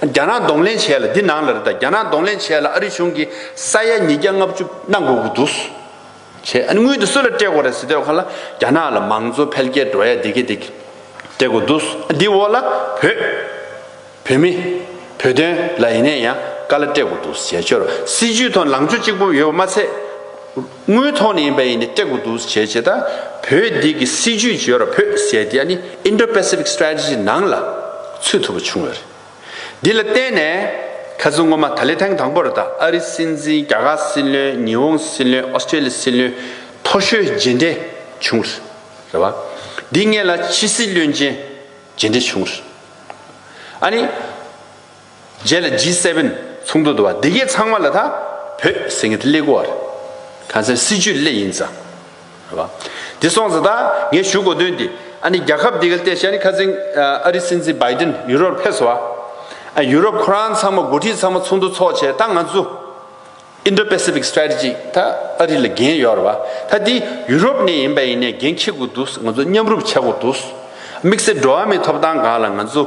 རྒྱ་ནག་གདོང་ལེན་བྱས་ལ་འདི་ནང་ལ་རེད་ད་རྒྱ་ནག་གདོང་ལེན་བྱས་ལ་ཨ་རི་གཞུང་གིས་ས་ཡ་ཉིས་བརྒྱ་ལྔ་བཅུ་གནང་དགོས་ཀྱི་འདུག། བྱས། ཨ་ནི་སྔོན་དུ་སུ་ལ་སྤྲད་དགོས་རེད་ཟེར་དུས་ཁོ་ལ་རྒྱ་ནག་ལ་མང་གཙོ་འཕེལ་རྒྱས་འགྲོ་ཡ་འདི་གི་འདི་གི་སྤྲད་དགོས་འདུག་འདི་འོག་ལ་བོད། བོད་མི། བོད་དོན་ལ་ཡིན་ནས་ཡང་དཀའ་ལ་སྤྲད་དགོས་འདུག་བྱས་ཆོལ་སྲིད་ཇུས་ཐོག་ལངས་ཕྱོགས་གཅིག་པུ་ཡོད་པ་མ་ཚད། དངུལ་ཐོག་ནས་ཡིན་པ་ཡིན་ནས་སྤྲད་དགོས་འདུག་བྱས་བྱས་དང་བོད་འདི་གི་སྲིད་ཇུས་བརྗོད་ར་བོད་ཟེར་དེ་ཨ་ནི Indo Pacific Strategy ནང་ལ་ཚུད་ཐུབ་པ་བྱུང་ཡོད་རེད། འདི་ལ་བརྟེན་ནས། ཁ་ཟུར་སྔོན་མ་ད་ལེ་ཐེངས་དང་པོར་ད་ཨ་རི་སྲིད་འཛིན་རྒྱ་གར་སྲིད་བློན་ཉི་ཧོང་སྲིད་བློན་ཨོ་སི་ཀྲེ་ལི་སྲིད་བློན་ཐོ་ཤོའི་རྗེས་འབྲེལ་བྱུང། རེད་བ། འདི་ངེད་ལ་ཕྱི་སྲིད་བློན་ཆེན་རྗེས་འབྲེལ་བྱུང། ཨ་ནི། རྗེས་ལ་ཇི་སེ་བེན་ཚོགས་འདུ་དུ་བ་འདི་གས་ཚང་མ་ལ་ད་བོད་ཟེར་ངེད་ད་སླེ་གོ་བ་རེད། ཁ་ཟེར་སྲིད་ཇུས་སླེ་ཡིན་ཙང། དེ་སོང་ཟིན་ད་ངས་ཞུ་དགོས་དོན་དེ། ཨ་ནི་རྒྱ་ཁབ་འདི་གལ་ཏེ་ཤ་རི་ཁ་ཛིང། ཨ་རི་སྲིད་འཛིན་བའི་ཏིན་ཡུ་རོར་ཕེབས་སོ། ཨ་ཡུ་རོབ་ཁོ་རང་ཚང་མ་འགོ་ཁྲིད་ཚང་མ་ཚོགས་འདུ་ཚོགས་བྱས་ད་ང་ཚོ། Indo Pacific Strategy ད་ཨ་རི་ལ་འགན་ཡོད་ར་བ། ད་དེ་ཡུ་རོབ་ནས་ཡིན་པ་ཡིན་ནས་འགན་འཁྱེར་དགོས་འདུག་ང་ཚོ་མཉམ་རུབ་བྱ་དགོས་འདུག། དམིགས་བསལ་འགྲོ་བ་མིའི་ཐོབ་ཐང་སྒང་ལ་ང་ཚོ།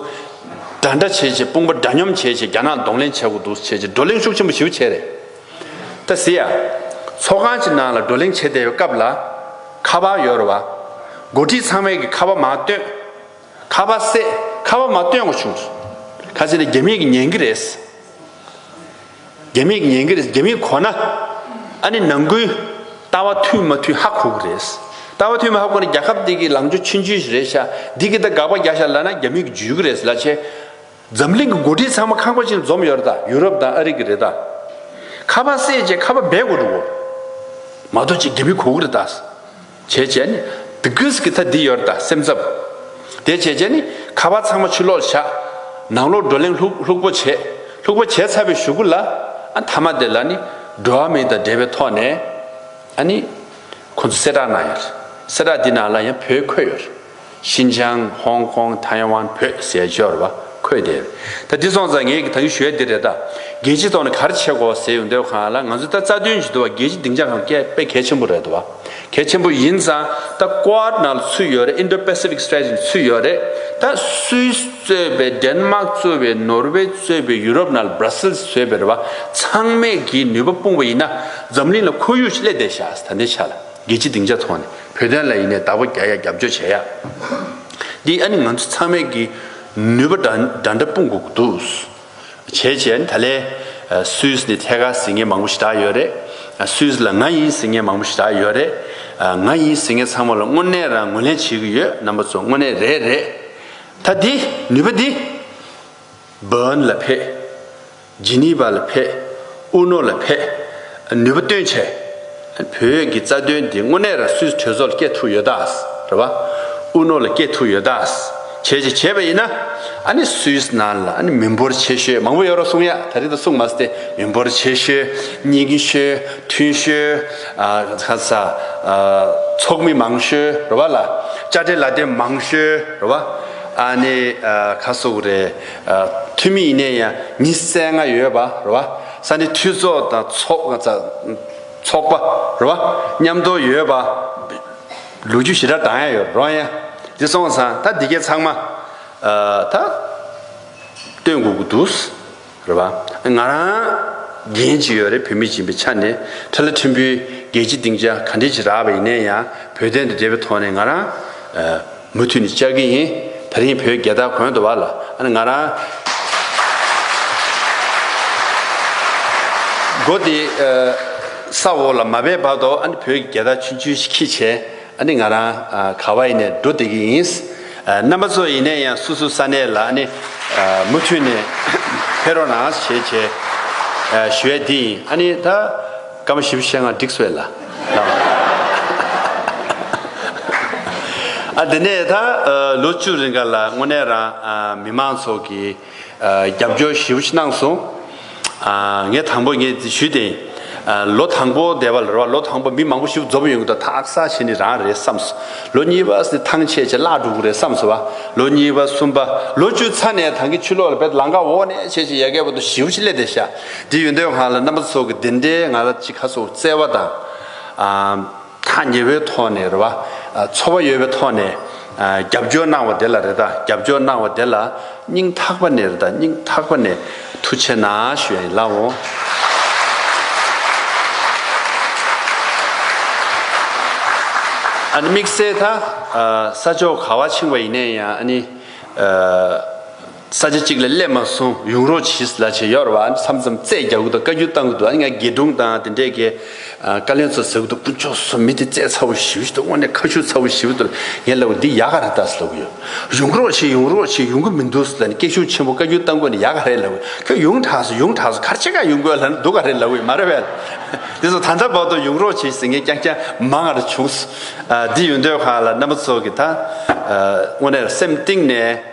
འདྲ་འདྲ་བྱེད་བྱེད་དཔུང་པ་འདྲ་མཉམ་བྱེད་བྱེད་རྒྱ་ནག་གདོང་ལེན་བྱ་དགོས་འདུག་བྱེད་བྱེད་བགྲོ་གླེང་ཤུགས་ཆེན་པོ་ཞིའུ་བྱས་རེད། ད་ཟི་ཡ། ཚོགས་ཁང་གྱི་ནང་ལ་བགྲོ་གླེང་བྱེད་བསྡད་པའི་སྐབས་ལ། ཁ་པར་ཡོད་རེད་བ། འགོ་ཁྲིད་ཚང་མས་ཀྱི་ཁ་པར་མ་བཏོན། ཁ་པར་བསད་ཁ་པར་མ་བཏོན་དགོས་བྱུང་སོང། ཁ་ཆེ་ནི་རྒྱ་མིས་ཀྱི་ཉན་གྱི་རེད། རྒྱ་མིས་ཀྱི་ཉན་གྱི་རེད་རྒྱ་མིས་གོ་ན། ཨ་ནི་ནང་ཁུལ། ལྟ་བ་མཐུན་མ་མཐུན་ཧ་གོ་གི་རེད། ལྟ་བ་མཐུན་མ་ཧ་གོ་ན་རྒྱ་ཁབ་འདི་གི་ལངས་ཕྱོགས་ཕྱིན་རྒྱུ་ཞིག་རེད་ཤག་འདི་གི་ད་དགག་པ་རྒྱག་ཤག་ལ་ན་རྒྱ་མིས་ཀྱི་འཇུས་གི་རེད་ལ་ཆེ། འཛམ་གླིང་གི་འགོ་ཁྲིད་ཚང་མ་ཁང་པ་ཅིག་འཛོམས་ཡོད་རེད་ད་ཡུ་རོབ་དང་ཨ་རི་གི་རེད་ད། ཁ་པར་བསད་རྗེས་ཁ་པར་སྦས་དགོས་འགྲོ་གོ། མ་གཏོགས་ཅིག་དགེ་མི་གོ་གི་རེད་ད། བྱས་རྗེས་ནི། དི་གིས་གི་ད་འདི་ཡོད་རེད་ད་སེམས་འཚབ། དེ་བྱས་རྗེས་ནི། ཁ་པར་ཚང་མ་ཕྱི་ལོག་བཞག། ནང་ལོག་བགྲོ་གླེང་ལྷུག་ལྷུག་པོ་བྱས། ལྷུག་པོ་བྱས་ཚར་བའི་ཞུ་གུ་ལ། ཨ་མཐའ་མ་དེ་ལ་ནི། འགྲོ་བ་མི་དང་འབྲེལ་བའི་ཐོག་ནས། ཨ་ནི། ཁོང་ཚོ་གསལ་བསྒྲགས་གནང་ཡོད་རེད། གསལ་བསྒྲགས་འདི་ནང་ལ་ཡང་བོད་འཁོད་ཡོད་རེད། ཤིན་ཅང་ཧོང་ཀོང་ཐའེ་ཝན་བོད་ཟས་སྦྱོར་བ་འཁོད་དེ། ད་འདི་སོང་ཙང་ངེད་ཀྱི་ད་ཡུལ་ཞོལ་འདི་རེད་ད། རྒྱལ་སྤྱིའི་ཐོག་ནས་གར་བྱེད་གོ་ཟེར་ཡོང་འདོད་གང་ལ་ང་ཚོའི་ད་རྩ་དོན་གྱི་དུ་བ་རྒྱལ་སྤྱི་སྡིངས་ཆ་གང་བསྐལ་དཔེ་གལ་ཆེན་པོ་རེད་དུ་བ་གལ་ཆེན་པོ་ཡིན་ཙང་ད་ཀོའར་ནག་ལ་ཚུད་ཡོད་རེད Indo Pacific Strategy ལ་ཚུད་ཡོད་རེད་ད Swiss གཙོས་པའི Denmark གཙོས་པའི Norway གཙོས་པའི Europe ནང་ལ Brussels གཙོས་པའི་རེད་བ་ཚང་མས་གིས་ནུས་པ་སྤུངས་པ་ཡིན་ན་འཛམ་གླིང་ལ་ཁོར་ཡུག་ཆེད་སླད་བསྡད་བཞག་ད་འདི་ཆ་ལ་རྒྱལ་སྤྱི་སྡིངས་ཆ་ཐོག་ནས། བོད་དོན་ལ་ཡིན་ནས་བདག་པོ་རྒྱག་ཡ་རྒྱབ་སྐྱོར་བྱེད་ཡ། འདི་ཨ་ནི་ང་ཚོ་ཚང་མས་ཀྱི་ནུས་པ་འདྲ་འདྲ་འདྲ་སྤུངས་དགོས་འདུག། བྱས་བྱས་ཨ་ནི་ད་ལས། སུད་ནི་ཐད་ཀར་ཟིང་ངེ་མང་པོ་ཞིག་དག་ཡོད་རེད། སུད་ལ་ང་ཡིན་ཟིང་ངེ་མང་པོ་ཞིག་དག་ཡོད་རེད། ང་ཡིན་ཟིང་ངེ་ཚང་མ་ལ་དངོས་གནས་རང་ངོས་ལེན་བྱེད་ཀྱི་ཡོད་རྣམ་པ་ཚོ་དངོས་གནས་རེད་རེད། ད་འདི་ནུས་པ་འདི། བོན་ལ་ཕེབས། ཇི་ནི་བ་ལ་ཕེབས། ཨུ་ནོ་ལ་ཕེབས། ནུས་པ་སྟོན་བྱས། བོད་ཀྱི་རྩ་དོན་འདི་དངོས་གནས་ར་སུས་གྲོས་ཚོགས་ལ་སྐྱེལ་ཐུབ་ཡོད་ད། རེད་བ། ཨུ་ནོ་ལ་སྐྱེལ་ཐུབ་ཡོད་ད། བྱས་བྱས་བྱས་པ་ཡིན་ན། ཨ་ནི་སུས་ན་ལ་ཨ་ནི་མི་འབོར་ཆེ་ཤོས་མང་པོ་ཡོད་རོགས་གསུངས་ཡ། ད་རིང་ད་གསུངས་མ་སྟེ་མི་འབོར་ཆེ་ཤོས། རྙིང་ཤོས། མཐུན་ཤོས། ཁ་ས། ཚོགས་མི་མང་ཤོས་རེད་བ་ལ། དཔྱ་ཁྲལ་ལ་དེ་མང་ཤོས་རེད་བ། ཨ་ནི་ཁ་སོགས་རེད། འཐུས་མི་ཡིན་ནས་ཡང་མི་གསལ་ང་ཡོད་པ་རེད་བ། ས་གནས་འཐུས་ཚོགས་དང་ཚོགས་པ་རེད་བ། མཉམ་དོ་ཡོད་པ། ལུགས་རྒྱུ་ཞི་དྲག་དང་ཡང་ཡོད་རོང་ཡང། འདི་སོང་ཙང་ད་འདི་གས་ཚང་མ། ད། སྟོན་དགོས་ཀྱི་འདུག། རེད་བ། ང་རང། འགན་གཅིག་ཡོད་རེད་བོད་མི་ཡིན་པའི་ཆ་ནས་ཁྲི་ལ་ཁྲི་འབུལ་རྒྱལ་སྤྱི་སྟེང་ཆ་ག་འདྲས་ཅིག་རག་པ་ཡིན་ནས་ཡང་བོད་དོན་དང་འབྲེལ་བའི་ཐོག་ནས་ང་རང། མུ་མཐུད་ནས་བཅར་གྱི་ཡིན། ད་རིང་བོད་རྒྱལ་དར་གོན་དུ་བ་ལ་ཨ་ནི་ང་རང། སྒོ་དེ་ས་འོག་ལ་མ་བས་བར་དོ་ཨ་ནི་བོད་རྒྱལ་དར་ཆུན་ཆུན་ཞིག་ཁྱི་བྱས་ཨ་ནི་ང་རང་ག་བ་ཡིན་ནས་འགྲོ་བསྡད་ཀྱི་ཡིན། རྣམ་པ་ཚོ་ཡིན་ནས་ཡང་སུ་སུ་ས་གནས་ལ་ཨ་ནི་མུ་མཐུད་ནས་ཕེ་རོགས་ནང་བྱས་བྱས་ཞུ་ཡས་དེ་ཡིན་ཨ་ནི་ད། སྐམ་པོ་ཞིབ་བཤད་ངག་སྒྲིག་སོས་ལ་ལགས། ཨ་དེ་ནས་ད་ལོ་བཅུ་རེ་འགར་ལ་དངོས་གནས་རང་མི་མང་ཚོགས་ཀྱི་རྒྱབ་སྐྱོར་ཞིབ་བཤད་གནང་སོང། ངས་དང་པོ་ངས་ཞུས་བདེན། ལོ་དང་པོ་འདས་པ་ལ་རེ་བ་ལོ་དང་པོ་མི་མང་པོ་ཞིབ་འཛོམས་ཡོང་གི་འདུག་དག་ས་ཆེ་ནི་རང་རེད་བསམ་སོ། ལོ་གཉིས་པ་ནི་ཐང་ཆད་ཆད་བརླག་འགྲོ་གི་རེད་བསམ་སོ་བ། ལོ་གཉིས་པ་གསུམ་པ་ལོ་བཅུ་ཚར་ནས་ད་གི་ཆུ་ལོག་ལ་བེད་ལང་ཀ་འོག་ནས་ཆད་ཆད་ཡལ་གའི་འོག་ཏུ་ཞིབ་བཤད་སླེ་དེ་བཞག་འདི་ཡོན་ཏན་བྷ་ལ་རྣམ་པ་ཚོགས་ཀྱི་བདེན་འབྲས་ང་ར་ཅི་ཁ་སོགས་བཙལ་བ་དང། ཐག་ཉེ་བོའི་ཐོག་ནས་རེད་བ། ཚོར་བ་ཡོད་པའི་ཐོག་ནས་རྒྱབ་སྐྱོར་གནང་བ་དེ་ལ་རེད་ད་རྒྱབ་སྐྱོར་གནང་བ་དེ་ལ་སྙིང་ཐག་པ་ནས་རེད་ད་སྙིང་ཐག་པ་ནས་ཐུགས་ཆེ་ན་ཞུ་ཡ་ཡིན་ལགས་འོང། ཨ་ནི་དམིགས་བསལ་ད་ས་ཕྱོགས་ག་བ་ཕྱིང་བ་ཡིན་ནས་ཡང་ཨ་ནི། ས་ཆ་གཅིག་ལ་སླེབས་མ་སོང་ཡུང་རོ་ཆིས་ལ་བྱེད་ཡོར་བ་མཚམས་མཚམས་བཙས་རྒྱག་གི་འདུག་བཀའ་རྒྱུན་བཏང་གི་འདུག་ཨ་ནི་ང་དགེ་སྒྲུང་དང་དེ་འདྲས་ཀྱི་བཀའ་བློན་ཚོ་ཟེར་གི་འདུག་དཀོན་མཆོག་སུ་མི་དེ་བཙས་ཚ་བོ་ཞི་བུ་ཞིག་འདུག་དངོས་གནས་ཁ་ཤུ་ཚ་བོ་ཞི་བུ་འདུག་ངས་ལབ་གི་འདི་ཡག་ག་རེད་ད་ཟེར་ལབ་གི་ཡོད་ཡུང་རོ་ཆིས་ཡུང་རོ་ཆིས་ཡོང་གི་མི་འདུག་ཟེར་ལ་ནི་སྐད་གཞུང་ཆེན་པོ་བཀའ་རྒྱུན་བཏང་དགོས་ནི་ཡག་ག་རེད་ལབ་གི་ཁྱོད་ཡོང་དྲགས་སོ་ཡོང་དྲགས་སོ་གར་ཆེ་ག་ཡོང་དགོས་ལ་ནི་འདུག་ག་རེད་ལབ་གི་ཡོད་མ་རེད་བས་དེ་ཚོ་ད་ལྟ་བར་དུ་ཡུང་རོ་ཆིས་ཟེར་མཁན་རྐྱང་རྐྱང་མ་ང་ར་བྱུང་སོང་འདི་ཡོད་འདོད་གང་ལ་རྣམ་པ་ཚོ་གི་ད་དངོས་གནས་སེམས་གཏིང་ནས།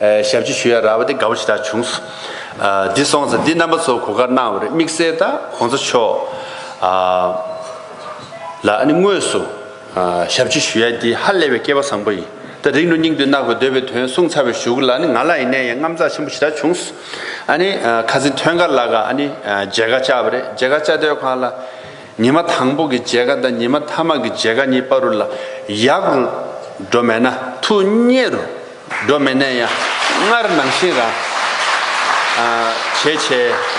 ཞབས་ཀྱི་ཞུ་ཡ་ར་བ་དེ་དགའ་བོ་ཞེ་དྲག་བྱུང། འདི་སོང་ཚེ་འདི་རྣམ་པ་ཚོ་གོ་དཀར་གནང་བ་རེད་དམིགས་བསལ་དང་གོང་ས་མཆོག་ལ་ཨ་ནི་དངོས་སུ་ཞབས་ཀྱི་ཞུ་ཡ་འདི་ཧ་ལས་བའི་སྐལ་བ་བཟང་པོ་ཡིན་ད་རིག་ནོ་སྙིང་དུ་བརྣག་པའི་འདོད་པའི་དོན་གསུངས་ཚར་བའི་ཞུ་གུ་ལ་ནི་ང་ལ་ཡིན་ནའི་ཡང་རྔམ་ཚགས་ཆེན་པོ་ཞེ་དྲག་བྱུང། ཨ་ནི་ཁ་ཟི་མཐོན་ཀ་ལ་ཀ་ཨ་ནི་མཇལ་ཁ་བཅག་པ་རེད་མཇལ་ཁ་བཅའ་སྡོད་ཁང་ལ། ཉི་མ་དང་པོ་གི་འཇལ་ཁ་དང་ཉི་མ་ཐ་མ་གི་འཇལ་ཁ་གཉིས་པ་རུ་ལ་ཡག་རུ་འགྲོ་མེད་ན་ཐུ་སྙད་རུ་འགྲོ་མེད་ནས་ཡང་སྔར་ནང་བཞིན་རང་བྱས་བྱས་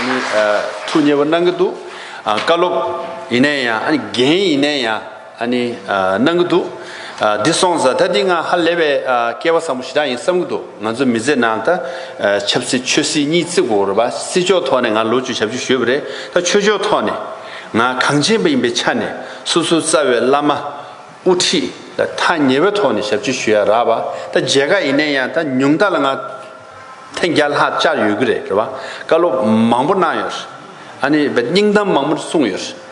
ནི་ཐུ་སྙད་པོ་གནང་གི་འདུག་བཀའ་སློབ་ཡིན་ནས་ཡང་ཨ་ནི་འགན་ཡིན་ནས་ཡང་ཨ་ནི་གནང་གི་འདུག་འདི་སོང་ཟ་ད་འདི་ང་ཧ་ལས་པའི་སྐལ་བ་བཟང་པོ་ཞེ་དྲག་ཡིན་བསམ་གི་འདུག། ང་ཚོ་མི་ཚེ་ནང་ད་ཆབ་སྲིད་ཆོས་སྲིད་གཉིས་བརྩི་དགོས་ར་བ་སྲིད་ཕྱོགས་ཐོག་ནས་ང་ལོ་བཅུ་ཞབས་བཅུ་བཞོས་པ་རེད་ད་ཆོས་ཕྱོགས་ཐོག་ནས་ང་གངས་ཅན་པ་ཡིན་པའི་ཆ་ནས་སོ་སོའི་རྩ་བའི་བླ་མ་དབུ་ཁྲིད་ལ་ཐ་ཉེ་བའི་ཐོག་ནས་ཞབས་བཅུ་བཞོས་ཡ་ར་བ་ད་མཇལ་ཁ་ཡིན་ནའི་ཡང་ད་ཉུང་མཐའ་ལ་ང་ཐེངས་བརྒྱ་ལྷག་བཅར་ཡོད་གི་རེད་ར་བ་བཀའ་སློབ་མང་པོ་གནང་ཡོད་རེད་ཨ་ནི་བ་སྙིང་གཏམ་མང་པོ་གསུངས་ཡོད་རེད།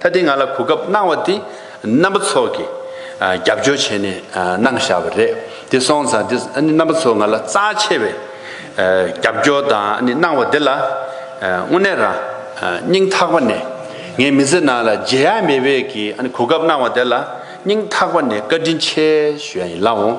ད་ལྟའི་ང་ལ་གོ་སྐབས་གནང་བ་འདི་རྣམ་པ་ཚོགས་ཀྱིས་རྒྱབ་སྐྱོར་བྱས་ནས་གནང་བཞག་པ་རེད་དེ་སོང་ཙང་འདི་རྣམ་པ་ཚོ་ང་ལ་རྩ་ཆེ་བའི་རྒྱབ་སྐྱོར་དང་གནང་བ་འདི་ལ་དངོས་གནས་རང་སྙིང་ཐག་པ་ནས་ངའི་མི་ཚེ་ནང་ལ་བརྗེད་ཡ་མེད་པའི་གི་གོ་སྐབས་གནང་བ་དེ་ལ་སྙིང་ཐག་པ་ནས་བཀའ་དྲིན་ཆེ་ཞུ་ཡ་ཡིན་ལགས་འོང།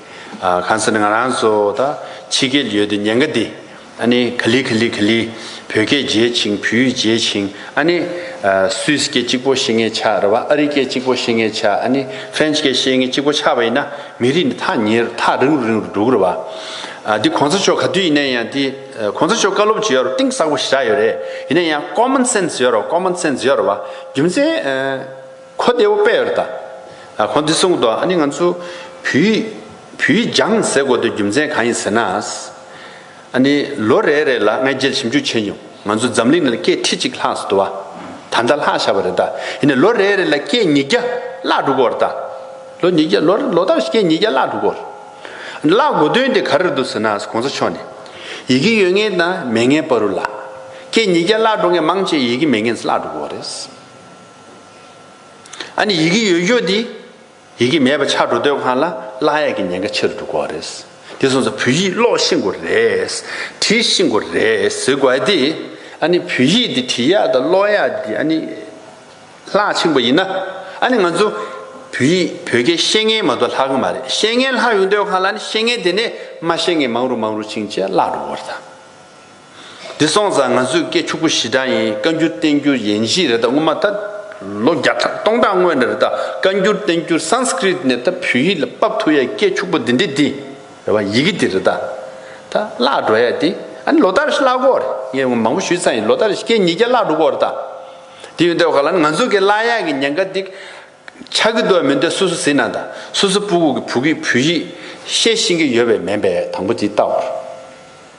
གང་ཟེར་ན་ང་རང་ཚོ་ད་ཕྱི་རྒྱལ་ཡོད་དུས་ཉེན་ཁ་འདི་ཨ་ནི་ག་ལི་ག་ལི་ག་ལི། བོད་སྐད་བརྗེད་ཅིང་བོད་ཡིག་བརྗེད་ཅིང་ཨ་ནི། སུའི་སྐད་གཅིག་པོ་ཤེས་ངེས་ཆགས་རེད་བ་ཨ་རི་སྐད་གཅིག་པོ་ཤེས་ངེས་ཆགས་ཨ་ནི་ཧྥེན་སྐད་ཤེས་ངེས་གཅིག་པོ་ཆགས་པ་ཡིན་ན་མི་རིགས་འདི་ཐག་ཉེ་རུ་ཐག་རིང་རུ་རིང་རུ་འགྲོ་གི་རེད་བ། འདི་གོང་ས་མཆོག་ག་དུས་ཡིན་ན་ཡང་འདི་གོང་ས་མཆོག་བཀའ་སློབ་བྱེད་ཡོད་རུང་གཏིང་ཟག་པོ་ཞིག་ཆགས་ཡོད་རེད་ཡིན་ན་ཡང common sense ཡོད་རུང common sense ཡོད་རེད་བ་རྒྱུ་མཚན། ཁོ་བདེ་བོ་པེར་ད། ཁོང་འདི་གསུངས་དོ་ཨ་ནི་ང་ཚོ་བུ་ཡིས། བུ་ཡིས་སྦྱངས་ཟེར་དགོས་དོན་རྒྱུ་མཚན་གང་ཡིན་ཟེར་ན། ཨ་ནི་ལོ་རེ་རེ་ལ་ང་རྒྱལ་ཞིབ་འཇུག་བྱས་མྱོང་ང་ཚོ་འཛམ་གླིང་ནང་སྐད་ཁྲི་གཅིག་ལྷག་སུ་དུ་བ། ད་ལྟ་ལྷག་བཞག་པ་རེ་ད་ཡིན་ནས་ལོ་རེ་རེ་ལ་སྐད་ཉིས་བརྒྱ་བརླག་འགྲོ་དགོས་བར་ད། ལོ་ཉིས་བརྒྱ་ལོ་ལོ་ལྟར་སྐད་ཉིས་བརྒྱ་བརླག་འགྲོ་དགོས། བརླག་དགོས་དོན་དེ་ག་རེར་འདུག་ཟེར་ན་གོང་ས་མཆོག་ནས། ཡི་གེ་ཡོད་ངེས་དང་མེད་ངེས་བར་རུ་བརླག། སྐད་ཉིས་བརྒྱ་བརླག་འགྲོ་ངེས་མང་ཆེ་ཡི་གེ་མེད་ངེས་སུ་བརླག་འགྲོ་དགོས་བར་རེད། ཨ་ནི་ཡི་གེ་ཡོད་ཡོད་དེ། ཡི་གེ་མེད་པ་ཆགས་འགྲོ་སྡོད་ཁང་ལ་གླ་གཡས་ཀྱི་ཉེན་ཁ་ཆེ་རུ་འགྲོ་དགོས་རེད། དེ་སོང་ཚ་བོད་ཡིག་ཀློག་ཤེས་དགོས་རེད། བྲིས་ཤེས་དགོས་རེད་ཟེར་དགོས་ཨ་དེ། ཨ་ནི་བོད་ཡིག་འདི་བྲིས་ཡག་དང་ཀློག་ཡག་འདི་ཨ་ནི། ལྷག་ཆེན་པོ་ཡིན་ན། ཨ་ནི་ང་ཚོ། བོད་ཡིག་བོད་སྐད་ཤེས་མཁན་མ་གཏོགས་ལྷག་གི་མ་རེད་ཤེས་མཁན་ལྷག་ཡོང་སྡོད་ཁང་ལ་ནི་ཤེས་མཁན་དེ་ནས་མ་ཤེས་མཁན་མང་རུ་མང་རུ་ཕྱིན་ཆད་བརླག་འགྲོ་དགོས་རེད་ད། འདི་སོང་ཙང་ང་ཚོས་སྐད་ཕྱུག་པོ་ཞི་དྲག་ཡིན་བཀའ་འགྱུར་བསྟན་འགྱུར་ཡན་གཞིས་རེད་ད་སྔོན་མ་ད་ལོ་བརྒྱ་ཕྲག་སྟོང་ཕྲག་སྔོན་རེད་ད་བཀའ་འགྱུར་བསྟན་འགྱུར Sanskrit ནས་ད་བོད་ཡིག་ལ་དཔབ་ཐུག་ཡས་སྐད་ཕྱུག་པོ་འདི་འདྲི་འདི་རེད་བ་ཡི་གེ་འདི་རེད་ད་ད་བརླག་འགྲོ་ཡས་འདི་ཨ་ནི་ལོ་ལྟར་བརླག་གོ་རེད་ངས་ངོ་མང་པོ་ཞུས་ཙང་ཡིན་ལོ་ལྟར་སྐད་ཉིས་བརྒྱ་བརླག་འགྲོ་གོ་རེད་ད་དེ་ཡོད་འདོད་ག་ལ་ནི་ང་ཚོ་གི་བརླག་ཡས་གི་ཉན་ཁ་འདི་ཆག་གི་འདོད་མི་འདོད་སུ་སུ་ཟིན་ན་ད་སུ་སུ་སྤུ་གུག་གི་བུ་གིས་བོད་ཡིག་ཤེས་ཤིང་གི་ཡོད་བས་མེད་པས་དང་པོ་འདི་ལྟ་བར།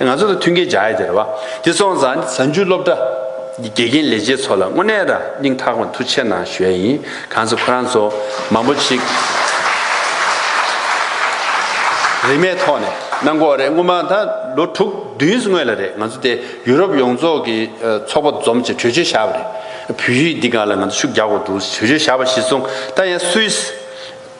ང་ཚོ་དང་མཐུན་གྱི་བྱ་ཡི་དེར་བ། དེ་སོང་ཙང་གཟའ་མཇུག་སློབ་གྲྭ། གི་དགེ་རྒན་ལས་བྱེད་ཚོ་ལ་དངོས་གནས་ར་སྙིང་ཐག་པ་མཐུ་ཆེ་གནང་ཞོལ་ཡིན་གང་ཚེ་ཁོ་རང་ཚོ་མང་པོ་ཅིག། རིན་མེད་ཐོག་ནས་གནང་གོ་རེད་སྔོན་མ་ད་ལོ་དྲུག་བདུན་སྔོན་ལ་རེད་ང་ཚོ་དེ་ཡུ་རོབ་ཡོངས་རྫོགས་ཀྱི་ཚོགས་པ་འཛོམས་ཅེས་གྲོས་ཆོད་བཞག་པ་རེད། བོད་ཡིག་འདི་ག་ལ་ང་ཚོ་ཤུགས་རྒྱག་དགོས་འདུག་ཅེས་གྲོས་ཆོད་བཞག་པ་གཞི་བཟུང་ད་ཡང་སུའི།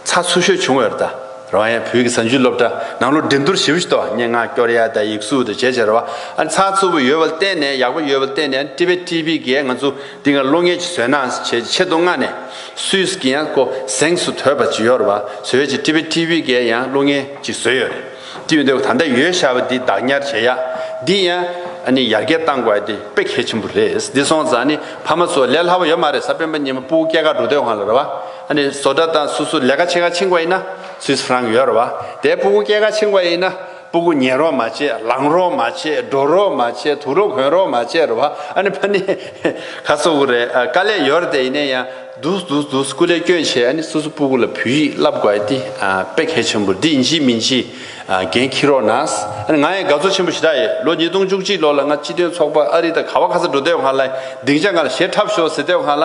ཚ་ཚུར་ཤོད་བྱུང་བའི་ར་ད་རོང་ཡའི་བོད་ཀྱི་གཟའ་མཇུག་སློབ་གྲྭ་ནང་ལོ་འབྲིང་དུར་ཞིབ་ཏུ་སྙན་ངག་སྐྱོར་ཡ་ད་ཡིག་གཟུགས་དང་བྱེད་བྱ་ར་བ་ཨ་ཚ་ཚུར་བུ་ཡོད་པ་བརྟེན་ནས་ཡག་པོ་ཡོད་པ་བརྟེན་ནས་ཀྲི་བེ་ཀྲི་བི་གས་ང་ཚོ་འདི་འགའ་བློ་ངན་གྱི་བཟོས་ན་བྱས་ཆེད་དུ་མངགས་ནས་སུས་སུ་གི་ཡང་ཀོ་གཟེངས་སུ་དོད་པ་ཅི་ཡོད་ར་བ་བཟོས་བྱས་ཀྲི་བེ་ཀྲི་བི་གས་ཡང་བློ་ངན་གྱི་བཟོས་ཡོད་རེད་ཀྲི་བེ་འདོད་ད་ལྟ་ཡོད་ཤ་བ་འདི་བདག་ཉར་བྱས་ཡ་འདི་ཡང་ཨ་ནི་ཡར་རྒྱས་བཏང་དགོས་ཡ་འདི་དཔེ་གལ་ཆེན་པོ་རེད་འདི་སོང་ཙང་ནི་ཕ་མ་ཚོ་ལས་སླ་བོ་ཡོད་མ་རེད་ས་སྤེན་པ་གཉིས་མ་སྤུ་གུ་སྐྱེ་རྒ་འགྲོ་འདོད་ཧང་ལ་ར་བ། ཨ་ནི་བཟོ་གྲྭ་དང་སུ་སུ་ལས་ཀ་བྱེད་ག་ཆིངས་བ་ཡིན་ན་སུས་ཧྲང་ཡོད་ར་བ་དེ་སྤུ་གུ་སྐྱེད་ག་ཆིངས་བ་ཡིན་ན་སྤུ་གུ་ཉལ་རོགས་མ་བྱེད་ལངས་རོགས་མ་བྱེད་འགྲོ་རོགས་མ་བྱེད་དུ་རོགས་གོན་རོགས་མ་བྱེད་ར་བ་ཨ་ནི་ཕ་ནི་ག་སོ་གུ་རེད་དཀའ་ལས་ཡོད་ར་དེ་ཡིན་ན་ཡང་རྡུགས་རྡུགས་རྡུགས་སུ་གུ་ལས་སྐྱོན་བྱེད་ཨ་ནི་སུ་སུ་སྤུ་གུ་ལ་བུ་ཡིག་བསླབ་དགོས་ཨ་ཏི་དཔེ་གལ་ཆེན་པོ་འདི་འཇིགས་མི་འཇིགས་འགན་འཁྱེར་རོགས་ནས་ཨ་ནི་ང་ཡང་དགའ་ཚོར་ཆེན་པོ་ཞིག་ད་ཡོད་ལོ་ཉིས་སྟོང་བཅུ་གཅིག་ལོ་ལ་ང་སྤྱི་དོན་ཚོགས་པ་ཨ་རི་དང་ག་བ་ག་ས་འགྲོ་སྡོད་ཁང་ལ་སྡིངས་ཆ་ང་ལ་ཞེ་ཁྲབ་ཤོག་ཟེར་སྡོད་ཁང་ལ།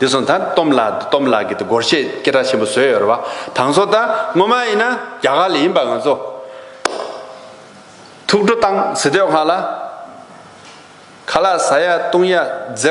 དེ་སོང་ད་སྟོམ་ལགས་འདུག་སྟོམ་ལགས་ཀྱི་དེ་སྒོར་གཞས་སྐད་གྲགས་ཆེན་པོ་བཟོས་ཡོད་རེད་བ། དང་སོ་ད་སྔོན་མ་ཡིན་ན་རྒྱ་གར་ལ་ཡིན་པ་ང་ཚོ། ཐུགས་སྤྲོ་བཏང་ཟེར་དུས་ང་ལ། ཁ་ལག་ཟ་ཡ་བཏུང་ཡ་མཛད།